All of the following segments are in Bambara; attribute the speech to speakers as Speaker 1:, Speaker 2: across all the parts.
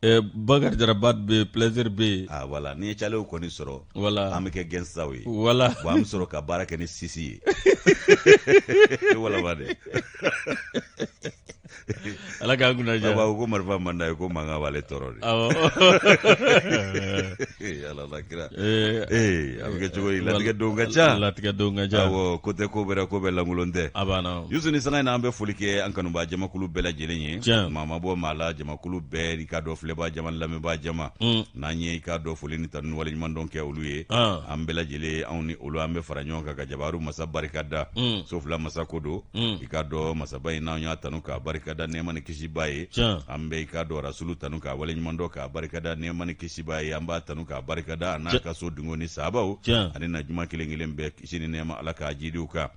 Speaker 1: Eh,
Speaker 2: bakari jaraba bɛ Plaisir bɛ yen ah, voilà n'i ye calew
Speaker 1: kɔni sɔrɔ voilà an bɛ kɛ
Speaker 2: gɛnsaw
Speaker 1: ye voilà bon an bɛ sɔrɔ
Speaker 2: ka baara
Speaker 1: kɛ ni sisi ye voilà ba dɛ
Speaker 2: ala k'an kunna diya ko marifa man d'a ye ko
Speaker 1: mankan b'ale tɔɔrɔ de ala la kira ee eh, eh, a bɛ kɛ cogo di latigɛ don ka ca latigɛ don ka ca awɔ ko tɛ ko bɛɛ ra ko bɛɛ lankolon tɛ a banna yusu ni sanga
Speaker 2: in na an bɛ foli
Speaker 1: kɛ an kanubaa jamakulu bɛɛ lajɛlen ye tiɲɛ maa ma bɔ maa la jamakulu bɛɛ i k'a dɔn filɛbaa jama lamɛnbaa jama mm. n'an ye i k'a dɔn foli ni tanu waleɲumandɔn kɛ olu ye ah. an bɛɛ lajɛlen anw ni olu an bɛ fara ɲɔgɔn kan ka jabaru masa barikada mm. so fila masa ko don mm. i k'a dɔn masaba in n'an y'a tanu k'a barikada nɛɛma ni kisiba ye an bɛ i k'a dɔn rasulu tanu k'a waleɲumandɔn k'a barikada nɛɛma ni kisiba ye an b'a tanu k'a barikada a n'a ka so dungo ni sahabaw ani na juma kelen kelen bɛɛ kisi ni nɛɛma ala k'a jiidi u kan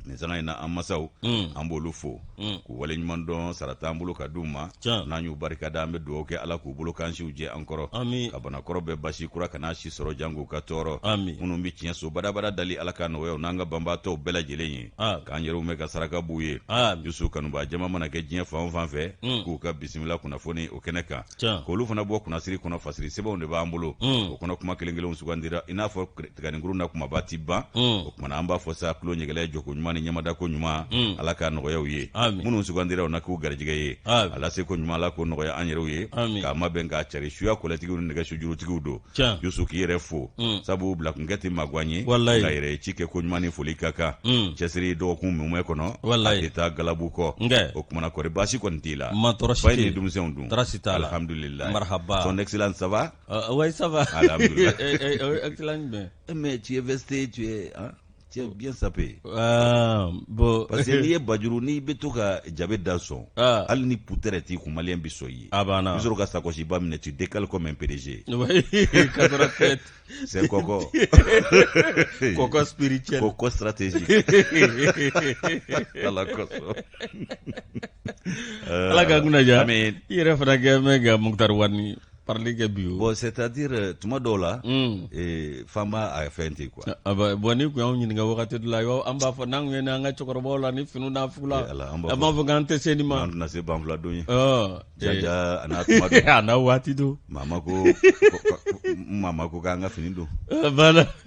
Speaker 1: nin sanga in na an masaw an b'olu fo mm. k'u waleɲumandɔn sara t'an bolo ka d'u ma n'an y'u barika da an bɛ dugawu kɛ ala k'u bolo kansiw jɛ an kɔrɔ ka banakɔrɔ bɛɛ basi kura kana si sɔrɔ janko ka tɔɔrɔ minnu bɛ tiɲɛ so badabada dali ala ka nɔgɔya u n'an ka banbaatɔw bɛɛ lajɛlen ye k'an yɛrɛw mɛn ka saraka b'u ye yusu kanubaa jama mana kɛ diɲɛ fan o fan fɛ mm. k'u ka bisimila kunnafoni o kɛnɛ kan k'olu fana bɔ kunnasiri kɔnɔ fasiri sɛbɛnw de b'an bolo mm. o kɔnɔ kuma kelen kelenw sugandira i n'a fɔ tiganikuru na kumaba ti ban o tuma na an b'a fɔ sa tulo ni hakili jɔko ɲuman ni ɲɛmadako ɲuman ala ka nɔgɔya aw ye minnu sugandira u na k'u garijɛgɛ ye a laseko ɲuman ala k'o nɔgɔya an yɛrɛw ye k'a mabɛn k'a cari suya kɔlɛtigiw ni nɛgɛ sujurutigiw don yusu k'i yɛrɛ fo sabu bilakun kɛ tɛ maguwan ye ka yɛrɛ ci kɛ ko ɲuman ni foli ka kan cɛsiri dɔgɔkun mumɛ kɔnɔ a tɛ taa galabu kɔ o tuma na kɔri baasi kɔni t'i la fa ni denmisɛnw dun alhamdulilayi son excellence ça va Oui, ça va. Ah,
Speaker 2: jumɛn mɛ tiɲɛ fɛ se
Speaker 1: tiɲɛ cɛ bi saba bɔn
Speaker 2: parce que n'i ye
Speaker 1: bajuru n'i bɛ to ka jabe da sɔn hali ni ku tɛ t'i kun mali bɛ sɔn ye a banna sɔrɔ ka sakɔsiba minɛ ci de k'ale kɔ mɛ pereze se kɔkɔ
Speaker 2: kɔkɔ siri cɛ ko kɔ siratez
Speaker 1: ala
Speaker 2: ala ka kunnaja i yɛrɛ fana kɛ mɛ nka mutari wari parili kɛ bi o bon c'est à dire
Speaker 1: euh, tuma dɔw la mm. eh, fan b'a a fɛn ten quoi ah, bah, bon n'i kun
Speaker 2: y'anw ɲininka wagati dɔ la an b'a fɔ n'an kun ye an ka cɛkɔrɔbaw la ni finiw n'a fugula eh, an b'a fɔ k'an tɛ se nin ma an tɛna se banfula don
Speaker 1: ye jaja a n'a tuma don a n'a waati
Speaker 2: don mama
Speaker 1: ko mama ko k'an ka fini don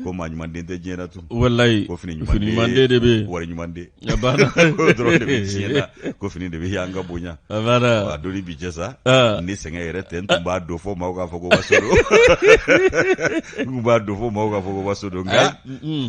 Speaker 1: ko
Speaker 2: maa ɲuman den
Speaker 1: tɛ diɲɛ na tun walayi ko fini
Speaker 2: ɲuman den
Speaker 1: de bɛ
Speaker 2: wari ɲuman den dɔrɔn
Speaker 1: de bɛ diɲɛ na ko fini de bɛ yan ka bonya a doni
Speaker 2: bi jɛ
Speaker 1: sa ni sɛgɛn yɛrɛ tɛ n tun b'a don fɔ maaw k'a fɔ ko waso don n b'a don fɔ maaw k'a fɔ ko waso don nka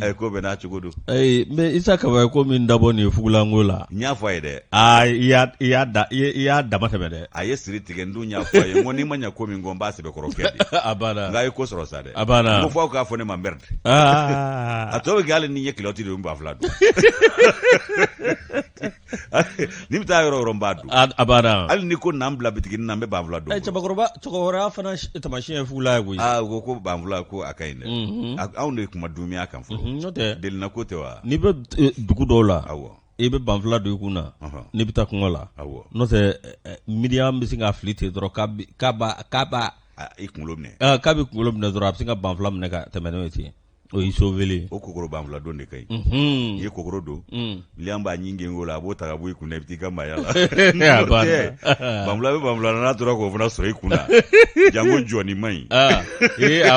Speaker 1: a ko bɛɛ n'a cogo don mɛ isa
Speaker 2: kaba ye ko min dabɔ nin ye fugulanko la n y'a fɔ a ye dɛ i y'a dama tɛmɛ dɛ a ye siri tigɛ n dun
Speaker 1: y'a fɔ a ye ko n'i ma ɲɛ ko min kɔ n b'a sɛbɛkɔrɔ kɛ dɛ nka a ye ko
Speaker 2: sɔrɔ sa dɛ
Speaker 1: a ko fɔ aw k'a fɔ
Speaker 2: ne ma merde
Speaker 1: a tɔ bɛ kɛ hali ni n ye kiloti don n bɛ banfula don ni n bɛ taa yɔrɔ o yɔrɔ n b'a don a banna hali ni
Speaker 2: ko n'an bila
Speaker 1: bitigini na n bɛ banfula don cɛkɔrɔba cɛkɔrɔba
Speaker 2: fana tamasiyɛn ye fugula ye koyi aa ko ko banfula
Speaker 1: ko a ka ɲi dɛ anw de ye kuma dunya kan fɔ n'o tɛ delina ko
Speaker 2: tɛ wa n'i
Speaker 1: bɛ dugu
Speaker 2: dɔw la aw i bɛ
Speaker 1: banfula don
Speaker 2: i kun na n'i bɛ taa kungo la n'o tɛ miniɲan bɛ se ka fili ten dɔrɔn k'a kunkolo minɛ
Speaker 1: k'a bɛ kunkolo minɛ dɔrɔn
Speaker 2: a bɛ se ka banfula minɛ ka tɛmɛ n'o ye ten o y'i sauvé o kokoro banfula don de
Speaker 1: ka ɲi n'i ye kokoro don miniɲan b'a ɲin gengen o la a b'o ta ka bɔ i kun na i bɛ taa i ka maaya la bɛ banfula n'a tora k'o fana sɔrɔ i kun la jango jɔi man ɲi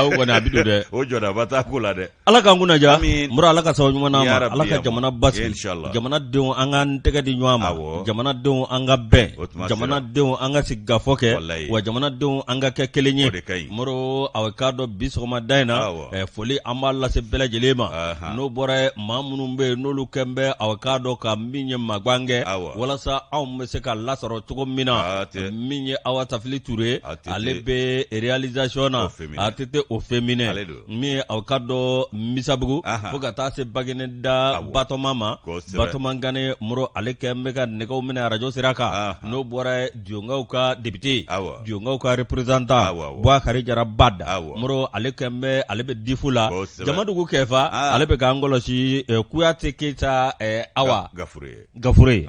Speaker 1: o kɔni
Speaker 2: a bɛ don dɛ o jɔdaba t'a ko la dɛ
Speaker 1: ala k'an kunna diya
Speaker 2: moro ala ka sababu ɲuman ma ala ka jamana basigi jamanadenw an ka tɛgɛ di ɲɔgɔn ma jamanadenw an ka bɛn jamanadenw an ka sigikafɔ kɛ wa jamanadenw an ka kɛ kelen ye moro aw k'a dɔn bi sɔgɔmada in na foli an b'a lase bɛɛ lajɛlen ma n'o bɔra maa minnu bɛ yen n'olu kɔni bɛ aw k'a dɔn ka min ye magan kɛ walasa anw bɛ se ka lasɔrɔ cogo min na min ye awa tafili ture ale bɛ realizasiɔn na ATT au féminin min ye aw k'a dɔn misabugu fo ka taa se baginɛda batoma ma batoma gane moro ale kɔni bɛ ka nɛgɛw minɛ arajo sira kan n'o bɔra dionkaw ka depite dionkaw ka reprezanta buakari jara bada moro ale kɔni bɛ ale bɛ difu la jamadugu kɛfa ale bɛ k'an kɔlɔsi eh, kuyate keyita eh, awa gafure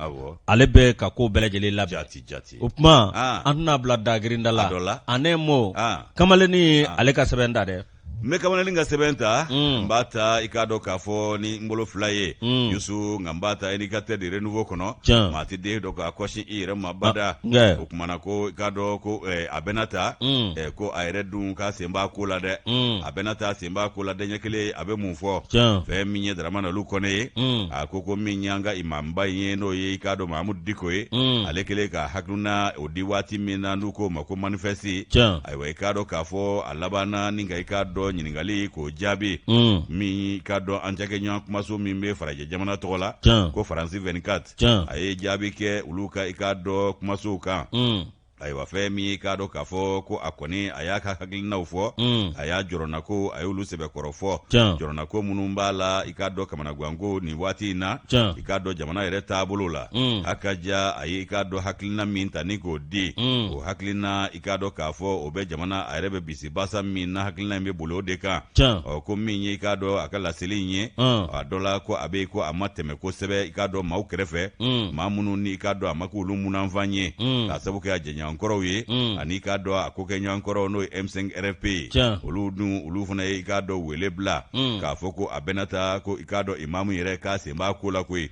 Speaker 2: ale bɛ ka ko bɛɛ lajɛlen labɛn o
Speaker 1: kuma
Speaker 2: an tɛna bila dagrinda la an mɔ kamalennin ye ale ka sɛbɛn da dɛ n bɛ kamalennin ka
Speaker 1: sɛbɛn ta mm. n b'a ta i k'a dɔn k'a fɔ ni n bolo fila ye mm. yusu nka n b'a ta indicateur du renouveau kɔnɔ maa tɛ den dɔn k'a kɔsi i yɛrɛ ma bada ah, o kuma na ko i k'a dɔn ko eh, a bɛna ta mm. eh, ko a yɛrɛ dun k'a sen b'a ko la dɛ a bɛna ta n b'a ko la dɛ ɲɛ kelen a bɛ mun fɔ fɛn min ye daramani alu kɔnɛ ye mm. a ko ko min y'an ka imamba in ye n'o ye i k'a dɔn mahamudu diko ye mm. ale kɛlen k'a hakilina o di waati min na n'u k'o ma ko manifɛsiti ayiwa i k'a dɔn k'a fɔ a labanna ni ka i k'a dɔn ɲininkali k'o jaabi mm. min i k'a dɔn an cakɛɲɔgɔn kumaso min bɛ farajɛ jamana tɔgɔ la ko faransi 24 a ye jaabi kɛ olu ka i k'a dɔn kumasow kan ayiwa fɛn min y'i k'a dɔn k'a fɔ ko a kɔni a y'a ka hakilinaw fɔ mm. a y'a jɔrɔnakow a y'olu sɛbɛkɔrɔ fɔ jɔrɔnako minnu b'a la i k'a dɔn kamanagwanko nin waati in na i k'a dɔn jamana yɛrɛ taabolo la mm. a ka ja a ye i k'a dɔn hakilina min ta ni k'o di mm. o hakilina i k'a dɔn k'a fɔ o bɛ jamana a yɛrɛ bɛ bisi i basa min na hakilina in bɛ boli o de kan ɔ ko min ye i k'a dɔn a ka laseli in ye a dɔ la ko a bɛ ko a ma tɛmɛ kosɛbɛ i k'a dɔn maaw kɛrɛfɛ mm. maa minnu ni i k'a dɔn a ma k'olu munanfan ye mm. k'a sabu kɛ a jɛɲɔgɔnkɔrɔw ye mm. ani i k'a dɔn a kokɛɲɔgɔnkɔrɔw n'o ye m5 rfp ye olu dun olu fana ye i k'a dɔn wele bila k'a fɔ ko a bɛna ta ko i k'a dɔn imamu yɛrɛ k'a sen b'a ko la koyi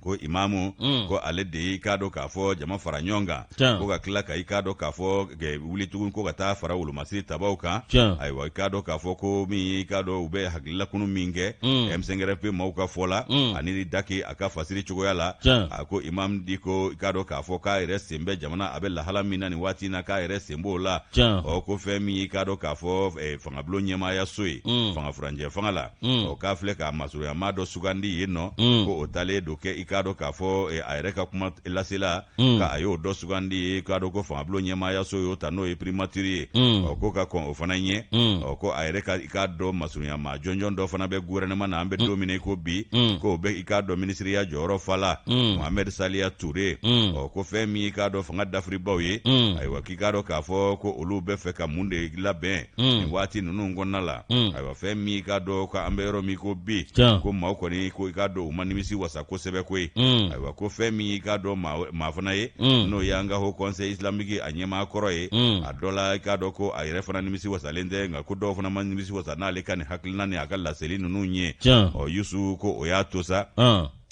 Speaker 1: ko imamu mm. ko ale de y'i k'a dɔn k'a fɔ jama fara ɲɔgɔn kan ko ka tila ka i k'a dɔn k'a fɔ wuli tugun ko ka taa fara wolomasiri tabaw kan ayiwa i k'a dɔn k'a fɔ ko min y'i k'a dɔn u bɛ hakililakunu min kɛ mm. m5 rfp maaw ka fɔ la mm. ani daki a ka fasiri cogoya la a ko imamu diko i k'a dɔn k'a fɔ k'a yɛrɛ sen bɛ jamana a bɛ lahala min na nin waati na k'a yɛrɛ sen b'o la ɔ ko fɛn min y'i k'a dɔn k'a fɔ eh, fangabulon ɲɛmaayaso ye fanga furancɛ fanga la Mm. o k'a filɛ k'a masurunya maa dɔ sugandi yen nɔ mm. ko o talen don kɛ i k'a dɔn k'a fɔ eh, a yɛrɛ ka kumalasela mm. ka a y'o dɔ sugandi i k'a dɔn ko fangabulon ɲɛmaayaso y'o ta n'o ye primatiri ye ɔ ko ka kɔn o fana ɲɛ ɔ ko a yɛrɛ ka i k'a dɔn masurunya maa jɔnjɔn dɔ fana bɛ guvɛrɛnɛma na an bɛ don min i ko bi k'o bɛ i k'a dɔn minisiriya jɔyɔrɔ fa la mohamɛd saliya ture ɔ ko fɛn min i k'a dɔn fanga dafiribaw ye ayiwa k'i k'a dɔn k'a fɔ ko olu bɛ fɛ ka mun de labɛn nin waati ninnu kɔnɔna la ayiwa fɛn min y'i k'a dɔn ko an bɛ yɔrɔ min ko bi ko maaw kɔni ko i k'a dɔn u ma nimisi wasa kosɛbɛ koyi mm. ayiwa ko fɛn min y'i k'a dɔn maa fana ye mm. n'o y'an ka ho kɔnse islamiki a ɲɛmaa kɔrɔ ye mm. a dɔ la i k'a dɔn ko a yɛrɛ fana nimisi wasalen tɛ nka ko dɔw fana ma nimisi wasa n'ale ka nin hakilina ni a ka laseli ninnu ye ɔ yusu ko o y'a to sa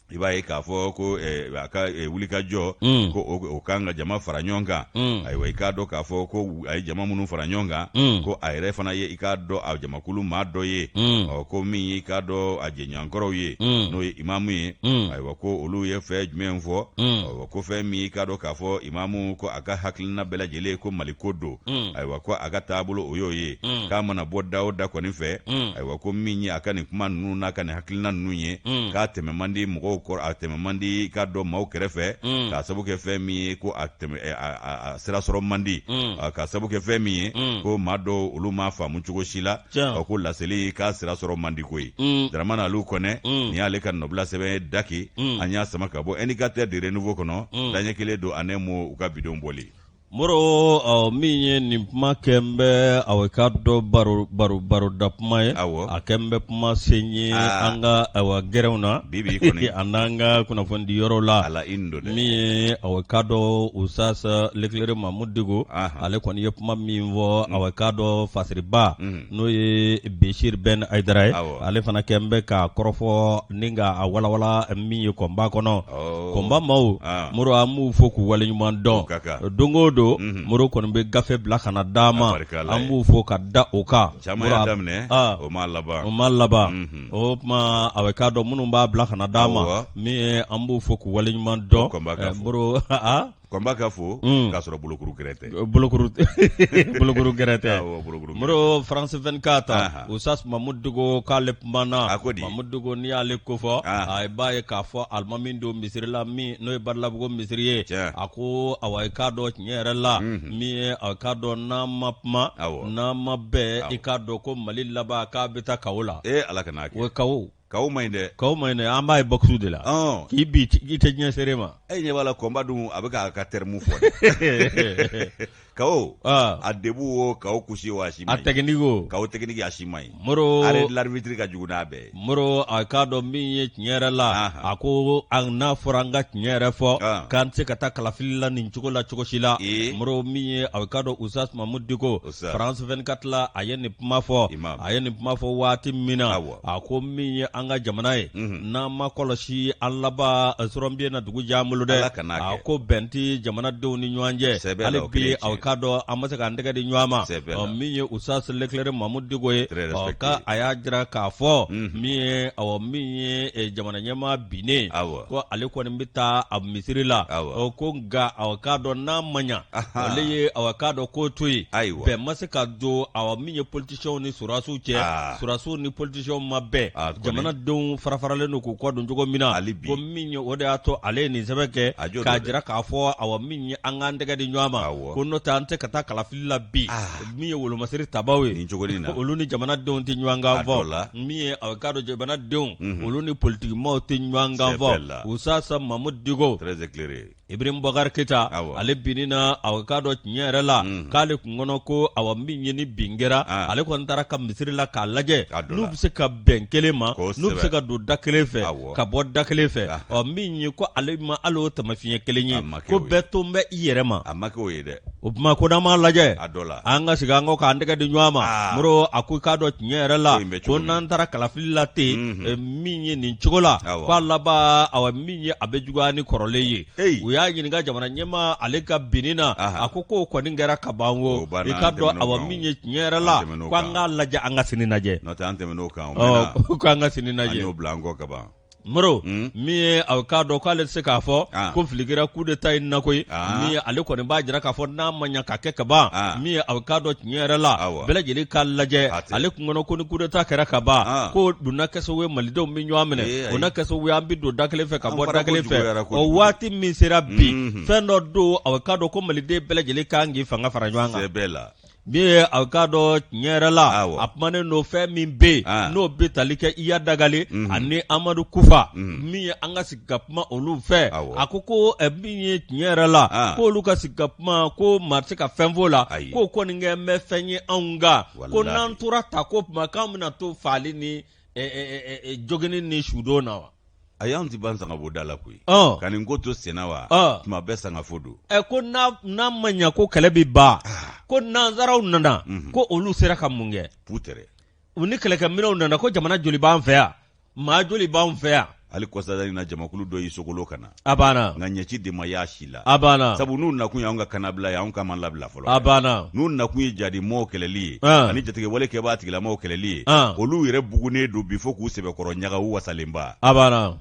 Speaker 1: i b'a ye k'a fɔ ko eh, a ka eh, wulikajɔ mm. ko o kan ka jama fara ɲɔgɔn kan mm. ayiwa i k'a dɔn k'a fɔ ko a ye jama minnu fara ɲɔgɔn kan mm. ko a yɛrɛ fana ye i k'a dɔn a jamakulu maa dɔ ye ɔ ko min y'i k'a dɔn a jɛɲɔgɔnkɔrɔw ye n'o ye imamu ye ayiwa ko olu ye fɛn jumɛn fɔ ayiwa ko fɛn min y'i k'a dɔn k'a fɔ imamu ko a ka hakilina bɛɛ lajɛlen ko mali ko don ayiwa ko a ka taabolo o y'o ye k'a mana bɔ da o da kɔni fɛ ayiwa ko min ye a ka nin kuma ninnu n'a ka nin hakilina ninnu ye mm. k'a tɛmɛ man di mɔgɔw ko a tɛmɛ man di i k'a dɔn maaw kɛrɛfɛ mm. k'a sabu kɛ fɛn min ye ko a tɛmɛ eh, a sira sɔrɔ man di mm. ah, k'a sabu kɛ fɛn min ye ko maa dɔw olu m'a faamu cogo si la ah, ko laseli k'a sira sɔrɔ man di koyi daramani aliw kɔnɛ nin y'ale ka nɔbila sɛbɛn ye daki an y'a sama ka bɔ indicateur du renouveau kɔnɔ daɲɛ kelen don en un mot u ka bidon bɔli
Speaker 2: Moro min ye nin kuma kɛlen bɛ a k'a dɔn baroda kuma ye a kɛlen bɛ kuma sen ye an ka gɛrɛnw na bi a n'an
Speaker 1: ka kunnafonidi
Speaker 2: yɔrɔ la ala min ye
Speaker 1: a k'a
Speaker 2: dɔn Usasa l'éclairé Mamud Diko ale kɔni ye kuma min fɔ a k'a dɔn fasiriba n'o ye Besiri Bɛn Ayidara ye ale fana kɛlen bɛ ka kɔrɔfɔ nin k'a walawala min ye kɔnba kɔnɔ kɔnba maw Moro an b'u fo k'u wale ɲuman dɔn don o don Moro kɔni bɛ gafe bila ka na d'an ma an b'u fo ka da o kan
Speaker 1: o ma
Speaker 2: laban o tuma aw k'a dɔn minnu b'a bila ka na d'an ma min an b'u fo k'u wale ɲuman dɔn Kɔnba
Speaker 1: ka fɔ unn k'a sɔrɔ bolokuru gɛrɛ tɛ ɔ bolokuru t bolokuru gɛrɛ
Speaker 2: tɛ awɔ bolokuru gɛrɛ tɛ Moro France 24 anhan Usas Mamud Diko k'ale kumana a ko di Mamud Diko n'i y'ale kofɔ aa aa i b'a ye k'a fɔ alimami don misiri la min n'o ye Badalabugu misiri ye tiɲɛ a koo awa i k'a dɔn tiɲɛ yɛrɛ la unhun min ye a k'a dɔn n'an ma kuma awɔ n'an ma bɛn awɔ i k'a
Speaker 1: dɔn
Speaker 2: ko Mali laban k'a bɛ taa kawo la ee Ala kan'a kɛ o ye kawo Kawo
Speaker 1: man ɲi dɛ kawo man ɲi an b'a ye
Speaker 2: boxeurs de la k'i bin i tɛ diɲɛ seere ma e ɲɛ b'a la kɔnba
Speaker 1: dun a bɛ k'a ka terme fɔ kawo debout wo kawo couché wo a si man ɲi technique wo kawo
Speaker 2: technique a si man
Speaker 1: ɲi Moro arrêt de l'arbitre
Speaker 2: ka jugu
Speaker 1: n'a bɛɛ Moro a k'a
Speaker 2: dɔn min ye tiɲɛ yɛrɛ la a ko a n'a fɔra an ka tiɲɛ yɛrɛ fɔ k'an tɛ se ka taa kalafili la nin cogo la cogo si la Moro min ye a k'a dɔn Usas Mamud Diko France 24 la a ye nin kuma fɔ a ye nin kuma fɔ waati min na wa a ko min ye an ka jamana ye mhm. n'an m'a kɔlɔsi an laban sɔrɔnbiye na dugu jan bolo dɛ a ko bɛn tɛ jamanadenw ni ɲɔgɔn cɛ hali bi aw k'a dɔn an ma se k'an tɛgɛ di ɲɔgɔn ma min ye Usas l'éclairé Mamud Diko ye ka a y'a jira k'a fɔ mhm. min ye aw min ye e, jamana ɲɛmaa binnen ko ale kɔni bɛ taa a misiri la ko nka aw k'a dɔn n'a ma ɲa ale ye aw k'a dɔn ko to yen bɛn ma se ka don aw min ye politi cɛw ni sɔrɔdasiw cɛ ah. sɔrɔdasiw ni politiciens ma bɛn ah, jamanadenw farafaralen don k'u kɔ don cogo min na hali bi ko min ye o de y'a to ale ye nin sɛbɛn kɛ k'a jira k'a fɔ awa min ye an k'an tɛgɛ di ɲɔgɔn ma ko n'o tɛ an tɛ ka taa kalafili la bi ah. min ye wolomasiri tabaaw ye nin cogo in na olu ni jamanadenw tɛ ɲɔgɔn kan fɔ min ye a k'a dɔn jamanadenw mhm. olu ni politikimaaw tɛ ɲɔgɔn kan fɔ Usas Mamud Diko très éclairé Ibrahim Bɔkari Keyita ale binni na a k'a dɔn tiɲɛ yɛrɛ la k'ale kun kɔnɔ ko awa min ye ni bin kɛra ale kɔni taara a ka misiri la k'a lajɛ n'u bɛ se ka bɛn kelen ma n'u bɛ se ka don da kelen fɛ ka bɔ da kelen fɛ ɔ min ye ko ale ma hali o tamafiɲɛ kelen ye ko bɛɛ tolen bɛ i yɛrɛ ma a ma k'o ye
Speaker 1: dɛ o tuma ko n'an
Speaker 2: m'a lajɛ a dɔ la an ka segin an kɔ k'an tɛgɛ di ɲɔgɔn ma Moro a ko k'a dɔn tiɲɛ yɛrɛ la ko n'an taara kalafili la ten min ye nin cogo la k'a laban awa ye a bɛ juguya ni kɔrɔlen ye u y'a ɲininka jamana ɲɛmaa ale ka binni na a ko k'o kɔni kɛra ka ban o i k'a dɔn a min ye tiɲɛ yɛrɛ la ko an k'a lajɛ an ka sini
Speaker 1: lajɛ ko an ka
Speaker 2: sini lajɛ moro min ye a k'a dɔn k'ale tɛ se k'a fɔ ko fili kɛra kudeta in na koyi min ye ale kɔni b'a jira k'a fɔ n'a ma ɲa ka kɛ ka ban min ye a k'a dɔn tiɲɛ yɛrɛ la bɛɛ lajɛlen k'a lajɛ ale kun kɔnɔ ko ni kudeta kɛra ka ban ah. ko donna kɛso ye malidenw bɛ ɲɔgɔn minɛ o na kɛso ye an bɛ don da kelen fɛ ka bɔ da kelen fɛ o waati min sera bi mhm. fɛn dɔ don a k'a dɔn ko maliden bɛɛ lajɛlen kan k'i fanga fara ɲɔgɔn kan min ye a k'a dɔn tiɲɛ yɛrɛ la a kumanen don fɛn min bɛ yen ah. n'o bɛ tali kɛ iya dagale mhm. ani amadu kufa mhm. min ye an ka sigi ka kuma olu fɛ a ko ko min ye tiɲɛ yɛrɛ la ah. ko olu ka sigi ka kuma ko maa tɛ se ka fɛn fɔ la k'o kɔni kɛ n bɛ fɛn ye anw kan ko n'an tora tan ko tuma k'an bɛna to faali ni jogini ni sudon na wa a y'an ti
Speaker 1: ban sangafo da la koyi ka nin ko to senna wa tuma bɛɛ sangafo don ɛ ko
Speaker 2: n'a ma ɲa ko kɛlɛ bɛ ban ah. ko nanzaraw nana mhm. ko olu sera ka mun kɛ putɛrɛ u ni kɛlɛkɛminɛw nana ko jamana joli b'an fɛ yan maa joli b'anw fɛ yan hali kɔsada in
Speaker 1: na jamakulu dɔ y'i sogolo ka na a banna nka ɲɛci
Speaker 2: de ma
Speaker 1: y'a si la a banna sabu
Speaker 2: n'u nakun y'anw ka
Speaker 1: kannabila ye anw kan ma labila fɔlɔ a banna n'u nakun
Speaker 2: ye
Speaker 1: jadimɔɔw kɛlɛli ye ah. ani jatigɛwalekɛbaa tigilamɔɔw kɛlɛli ye ah. olu yɛrɛ bugunen don bi fo k'u sɛbɛkɔrɔ ɲaga u wasalenba a
Speaker 2: banna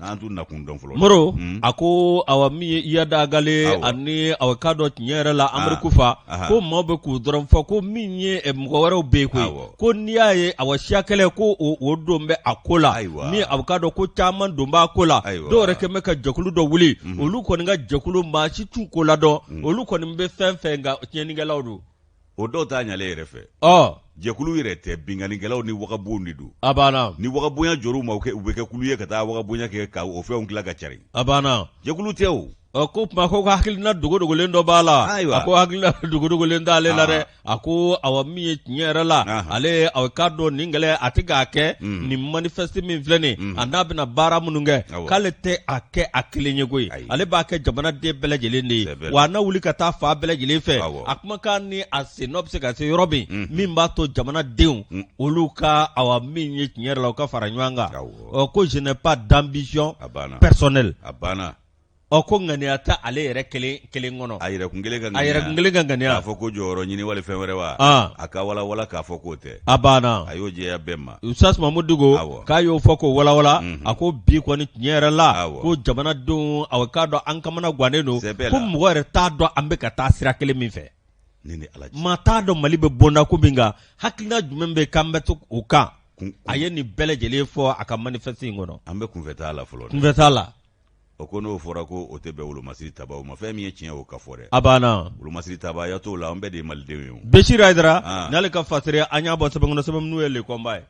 Speaker 2: an t'u
Speaker 1: nakun dɔn fɔlɔ moro hmm. a
Speaker 2: ko awa min ye iyadagale ani awa k'a dɔn tiɲɛ yɛrɛ la ah. amadu kufa ko maaw bɛ k'u dɔrɔn fɔ ko min ye eh, mɔgɔ wɛrɛw bɛ yen koyi ko n'i y'a ye awa siya kɛlɛ ko o don bɛ a ko la min aw k'a dɔn ko caman don b'a ko la dɔw yɛrɛ kɛlen bɛ ka jɛkulu dɔ wuli mhm. olu kɔni ka jɛkulu maa si t'u ko la dɔn mhm. olu kɔni bɛ fɛn fɛ nka tiɲɛnikɛlaw don o dɔw t'a
Speaker 1: ɲalen yɛrɛ fɛ jɛkulu yɛrɛ tɛ binkannikɛlaw ni wagabon de don a banna ni wagabonya
Speaker 2: jɔr'u ma
Speaker 1: u bɛ kɛ kulu ye ka taa wagabonya kɛ ka o fɛnw tila ka cari a banna jɛkulu
Speaker 2: tɛ o
Speaker 1: Ɔ ko tuma
Speaker 2: ko hakilina dogodogolen dɔ b'a la a ko hakilina dogodogolen t'ale la dɛ a ko aw min ye tiɲɛ yɛrɛ la ale aw k'a dɔn nin kɛlɛ a tɛ k'a kɛ nin manifeste min filɛ nin a n'a bɛna baara minnu kɛ k'ale tɛ a kɛ a kelen ye koyi ale b'a kɛ jamanaden bɛɛ lajɛlen de ye wa a na wuli ka taa fan bɛɛ lajɛlen fɛ a kumakan ni a sen n'o bɛ se ka se yɔrɔ min min b'a to jamanadenw olu ka aw min ye tiɲɛ yɛrɛ la u ka fara ɲɔgɔn kan ɔ ko je n'ai pas d'ambition personnelle Ɔ ko ŋaniya tɛ ale yɛrɛ kelen kɔnɔ a yɛrɛkun
Speaker 1: kelen ka ŋaniya k'a fɔ ko jɔyɔrɔ ɲini wali fɛn wɛrɛ wa a k'a walawala k'a fɔ k'o tɛ a banna a y'o jɛya
Speaker 2: bɛɛ ma
Speaker 1: ustaz mamudu
Speaker 2: diko k'a y'o fɔ k'o walawala a ko bi kɔni tiɲɛ yɛrɛ la ko jamanadenw a k'a dɔn an kamanagannen don ko mɔgɔ yɛrɛ t'a dɔn an bɛ ka taa sira kelen min fɛ ni ala maa t'a dɔn mali bɛ bonda ko min kan hakilina jumɛn bɛ k'an bɛ to o kan a ye nin bɛɛ lajɛlen fɔ a ka manifeste in kɔnɔ an bɛ kunfɛtaa la fɔlɔ
Speaker 1: kunfɛtaa la
Speaker 2: o ko
Speaker 1: n'o fɔra ko o tɛ bɛn wolomasiri tabaw ma fɛn min ye tiɲɛ o ka fɔ dɛ a banna
Speaker 2: wolomasiri tabaya t'o
Speaker 1: la an bɛɛ de ye malidenw ye Bɛsiri
Speaker 2: Hayidara ah. n'ale ka fasari an y'a bɔ sɛbɛn kɔnɔ sɛbɛn min n'o ye
Speaker 1: Le
Speaker 2: Combat ye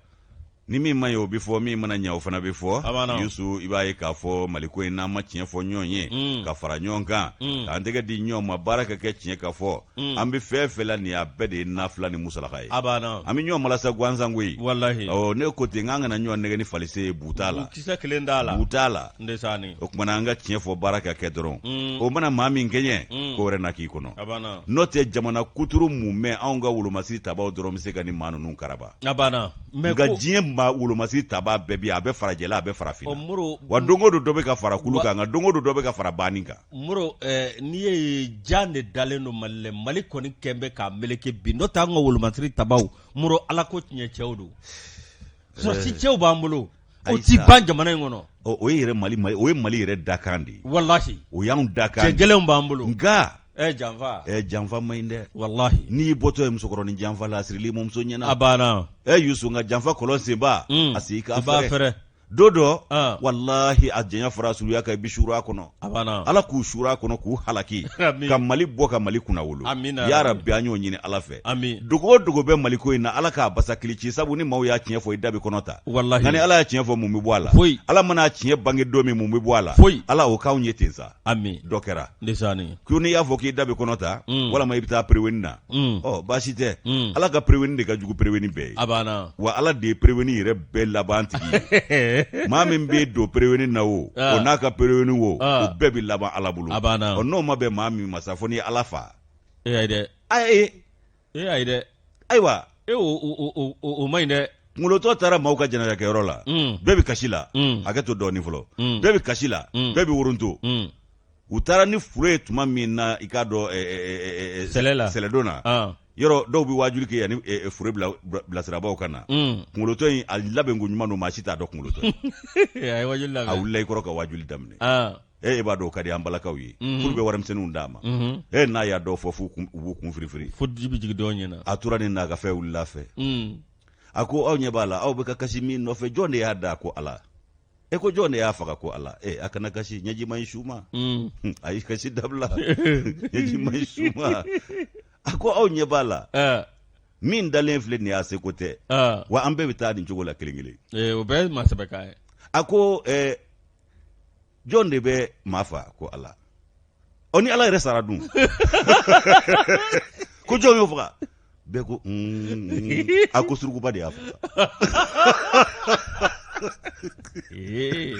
Speaker 2: ni
Speaker 1: min ma ɲɛ o bɛ fɔ min mana ɲɛ o fana bɛ fɔ yusu i b'a ye k'a fɔ maliko in n'an ma tiɲɛ fɔ ɲɔgɔn ye mm. ka fara ɲɔgɔn kan mm. k'an tɛgɛ di ɲɔgɔn ma baara ka kɛ tiɲɛ ka fɔ Mm. an bɛ fɛn fɛn la nin a bɛɛ de ye nafila ni musalaka ye an bɛ ɲɔgɔn malasa gansan koyi ne ko ten k'an kana ɲɔgɔn nɛgɛn ni falise ye buta la buta la o tuma na an ka tiɲɛ fɔ baara ka kɛ dɔrɔn mm. o mana maa min kɛɲɛ mm. ko wɛrɛ na k'i kɔnɔ n'o tɛ jamana kuturu mumɛ anw ka wolomasiri tabaw dɔrɔn bɛ se ka ni maa ninnu karaba nka diɲɛ maa wolomasiri taba bɛɛ bi a bɛ farajɛla a bɛ farafinna wa don o don dɔ bɛ ka fara kulu kan nka don o don dɔ bɛ ka fara banni kan mori eh,
Speaker 2: n'i ye jan de dalen don mali la mali kɔni kɛlen bɛ k'a meleke bi n'o tɛ an ka wolomasiri tabaw mori ala ko tiɲɛ cɛw don sɔrɔdasi eh, cɛw b'an bolo o ti ban jamana in kɔnɔ o ye yɛrɛ mali mali
Speaker 1: o ye mali yɛrɛ dakan de ye walahi o
Speaker 2: y'anw dakan
Speaker 1: cɛ gɛlɛnw b'an bolo
Speaker 2: nka ɛ eh,
Speaker 1: janfa ɛ
Speaker 2: janfa man ɲi
Speaker 1: dɛ walahi n'i y'i bɔtɔ
Speaker 2: ye musokɔrɔnin
Speaker 1: janfa la a siril'i mɔmuso ɲɛna a banna ɛ
Speaker 2: yusu nka janfa
Speaker 1: kɔlɔn senbaa hmm. a sen k'a fɛrɛ don dɔ ah. walahi a janya fara surunya kan i bi suur'a kɔnɔ ala k'u suur'a kɔnɔ k'u halaki ka mali bɔ ka mali kunna wolo ya rabi an y'o ɲini ala fɛ dogo o dogo bɛ maliko in na ala k'a basa kili ci sabu ni maaw y'a tiɲɛ fɔ i da bi kɔnɔ ta nka ni ala y'a tiɲɛ fɔ mun bɛ bɔ a la ala man'a tiɲɛ bange don min mun bɛ bɔ a la ala o k'anw ye ten sa ami dɔ kɛra ndesani ko n'i y'a fɔ k'i da bɛ kɔnɔ ta mm. walama i bɛ taa pereweni na mm. ɔ baasi tɛ mm. ala ka pereweni de ka jugu pereweni bɛɛ ye a banna wa ala de ye pereweni yɛrɛ bɛɛ laban tigi ye maa min b'i don pereweni na o ah. o n'a ka pereweni o o ah. bɛɛ bɛ laban ala bolo a banna ɔ n'o ma bɛn maa min ma sa fo n'i ye ala fa e ayi dɛ ayi e ayi dɛ ayiwa
Speaker 2: e o man ɲi dɛ kunkolotɔ taara
Speaker 1: maaw ka jɛnɛjakɛyɔrɔ la mm. bɛɛ bɛ kasi la mm. hakɛ to dɔɔnin fɔlɔ mm. bɛɛ bɛ kasi la bɛɛ bɛ woronto u taara ni fure ye tuma min na i k'a dɔn eh, eh, eh, sɛlɛdon na ah. yɔrɔ dɔw bɛ waajuli kɛ yanni fure bilasirabaaw ka na kunkolotɔ in a labɛnko ɲuman don maa si t'a dɔn kunkolotɔ a
Speaker 2: wulila i
Speaker 1: kɔrɔ ka waajuli daminɛ ah. e b'a dɔn ka di an balakaw ye fo u bɛ warimisɛnninw d'a ma e n'a y'a dɔw fɔ f'u b'u kun firifiri fo ji bɛ jigin dɔw ɲɛ
Speaker 2: na a tora nin n'a ka
Speaker 1: fɛn wulila fɛ a ko aw ɲɛ b'a la aw bɛ ka kasi min nɔfɛ jɔn de y'a da ko ala e ko jɔn de y'a faga ko ala ee a kana kasi ɲɛji man ɲi su ma a y'i kasi dabila ɲɛji man ɲi su ma a ko aw ɲɛ b'a la min dalen filɛ nin y'a seko tɛ wa an bɛɛ bɛ taa nin cogo la kelen kelen o bɛɛ ye maa sɛbɛkan ye
Speaker 2: a ko
Speaker 1: jɔn de bɛ maa fa ko ala ɔ ni ala yɛrɛ sara dun ko jɔn y'o faga bɛɛ ko mm, mm. a ko surukuba de y'a faga Eh.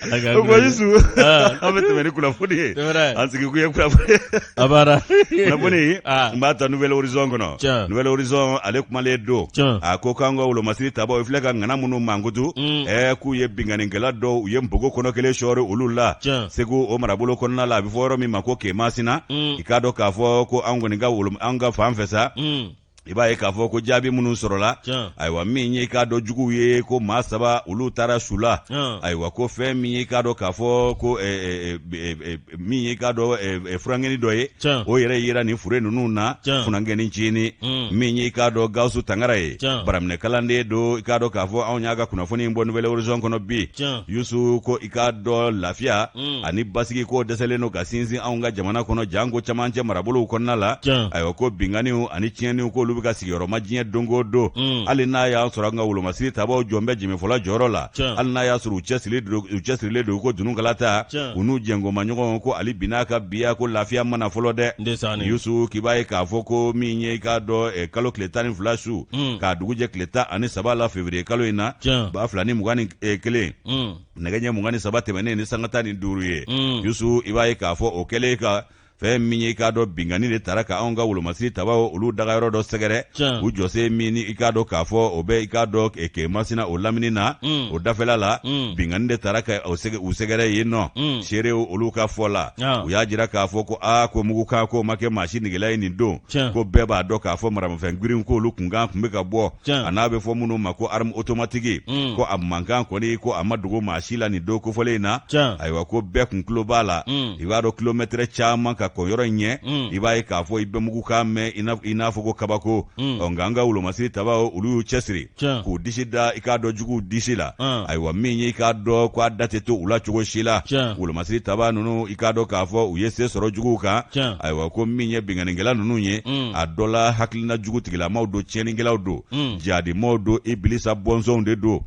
Speaker 1: Ala ka o ko Yusu Ah. an bɛ tɛmɛ ni kunnafoni ye Tɛmɛ n'a ye. an sigi kun ye kunnafoni A b'a la. Kunnafoni Aa. n b'a ta Nouvel Horizon kɔnɔ. Tiɲɛ. Nouvel Horizon ale kumalen don. Tiɲɛ. A ko k'an ka wolomasiri tabaaw, i filɛ ka ŋana minnu mankutu, Un. ɛɛ k'u ye binkannikɛla dɔw, u ye npogo kɔnɔ kelen sɔɔri olu la. Tiɲɛ. Segu o marabolo kɔnɔna la, a bɛ fɔ yɔrɔ min ma ko Kemasina. Un. I k'a dɔn k'a fɔ ko an kɔni ka wolo, an ka fan fɛ sa, Un. i b'a ye k'a fɔ ko jaabi minnu sɔrɔla ayiwa min ye k'a dɔn juguw ye ko maa saba olu taara su la ayiwa ko fɛn min ye k'a dɔn k'a fɔ ko min ye k'a dɔn funankɛni dɔ ye o yɛrɛ yera nin fure ninnu na funankɛni cini mm. min ye k'a dɔn gawusu tangara ye baraminɛ kalanden don i k'a dɔn k'a fɔ anw y'a ka kunnafoni in bɔ nouvel horizon kɔnɔ bi yusu ko i k'a dɔn lafiya mm. ani basigi ko dɛsɛlen don ka sinsin anw ka jamana kɔnɔ janko camancɛ marabolow kɔnɔna la ayiwa ko binkanniw ani tiɲɛniw k'olu bɛ ka sigiyɔrɔma diɲɛ don go don mm. hali n'a y'a sɔrɔ an ka wolomasiri tabaw jɔlen bɛ jɛmɛfɔla jɔyɔrɔ la hali n'a y'a sɔrɔ u cɛsirilen don ko dununkala ta u n'u jɛnkoma ɲɔgɔn ko hali bi n'a ka biya ko lafiya ma na fɔlɔ dɛ yusu k'i b'a ye k'a fɔ ko min ye i k'a dɔn eh, kalo tile tan ni fila su mm. k'a dugujɛ tile tan ani saba la fevriye kalo in na ba fila ni mugan ni eh, kelen mm. nɛgɛ ɲɛ mugan ni saba tɛmɛnen ni sanga tan ni duuru ye mm. yusu i b'a ye k'a fɔ o kɛlen ka fɛn min ye i k'a dɔn binkanni de taara ka anw ka wolomasiri tabaw olu dagayɔrɔ dɔ sɛgɛrɛ u jɔsen min i k'a dɔn k'a fɔ o bɛ i k'a dɔn kemasina o lamini na mm. o dafɛla la mm. binkanni de taara ka u sɛgɛrɛ yen nɔ mm. seerew olu ka fɔ la u y'a jira k'a fɔ ko aa ko mugukan k'o ma kɛ maa si nigela ye nin don ko bɛɛ b'a dɔn k'a fɔ maramafɛn girinw k'olu kunkan kun bɛ ka bɔ an'a bɛ fɔ minnu ma ko arme automatique mm. ko a mankan kɔni ko a ma dogo maa si la nin don kofɔlen in na ayiwa ko bɛɛ kun tulo b'a la mm. i b'a dɔn kilomɛtɛrɛ caman ka kɔn yɔrɔ in ɲɛ mm. i b'a ye k'a fɔ i bɛ mugukan mɛn i n'a fɔ ko kabako ɔ nka an ka wolomasiri tabaw olu y'u cɛsiri k'u disi da i k'a dɔn juguw disi la ayiwa min ye i k'a dɔn ko a da tɛ to u la cogo si la wolomasiri taba ninnu i k'a dɔn k'a fɔ u ye se sɔrɔ juguw kan ayiwa ko min ye binkannikɛla ninnu ye a dɔ la hakili na jugutigilamaw don tiɲɛnikɛlaw don hmm. jadimɔgɔw don ibilisa bɔnsɔnw de don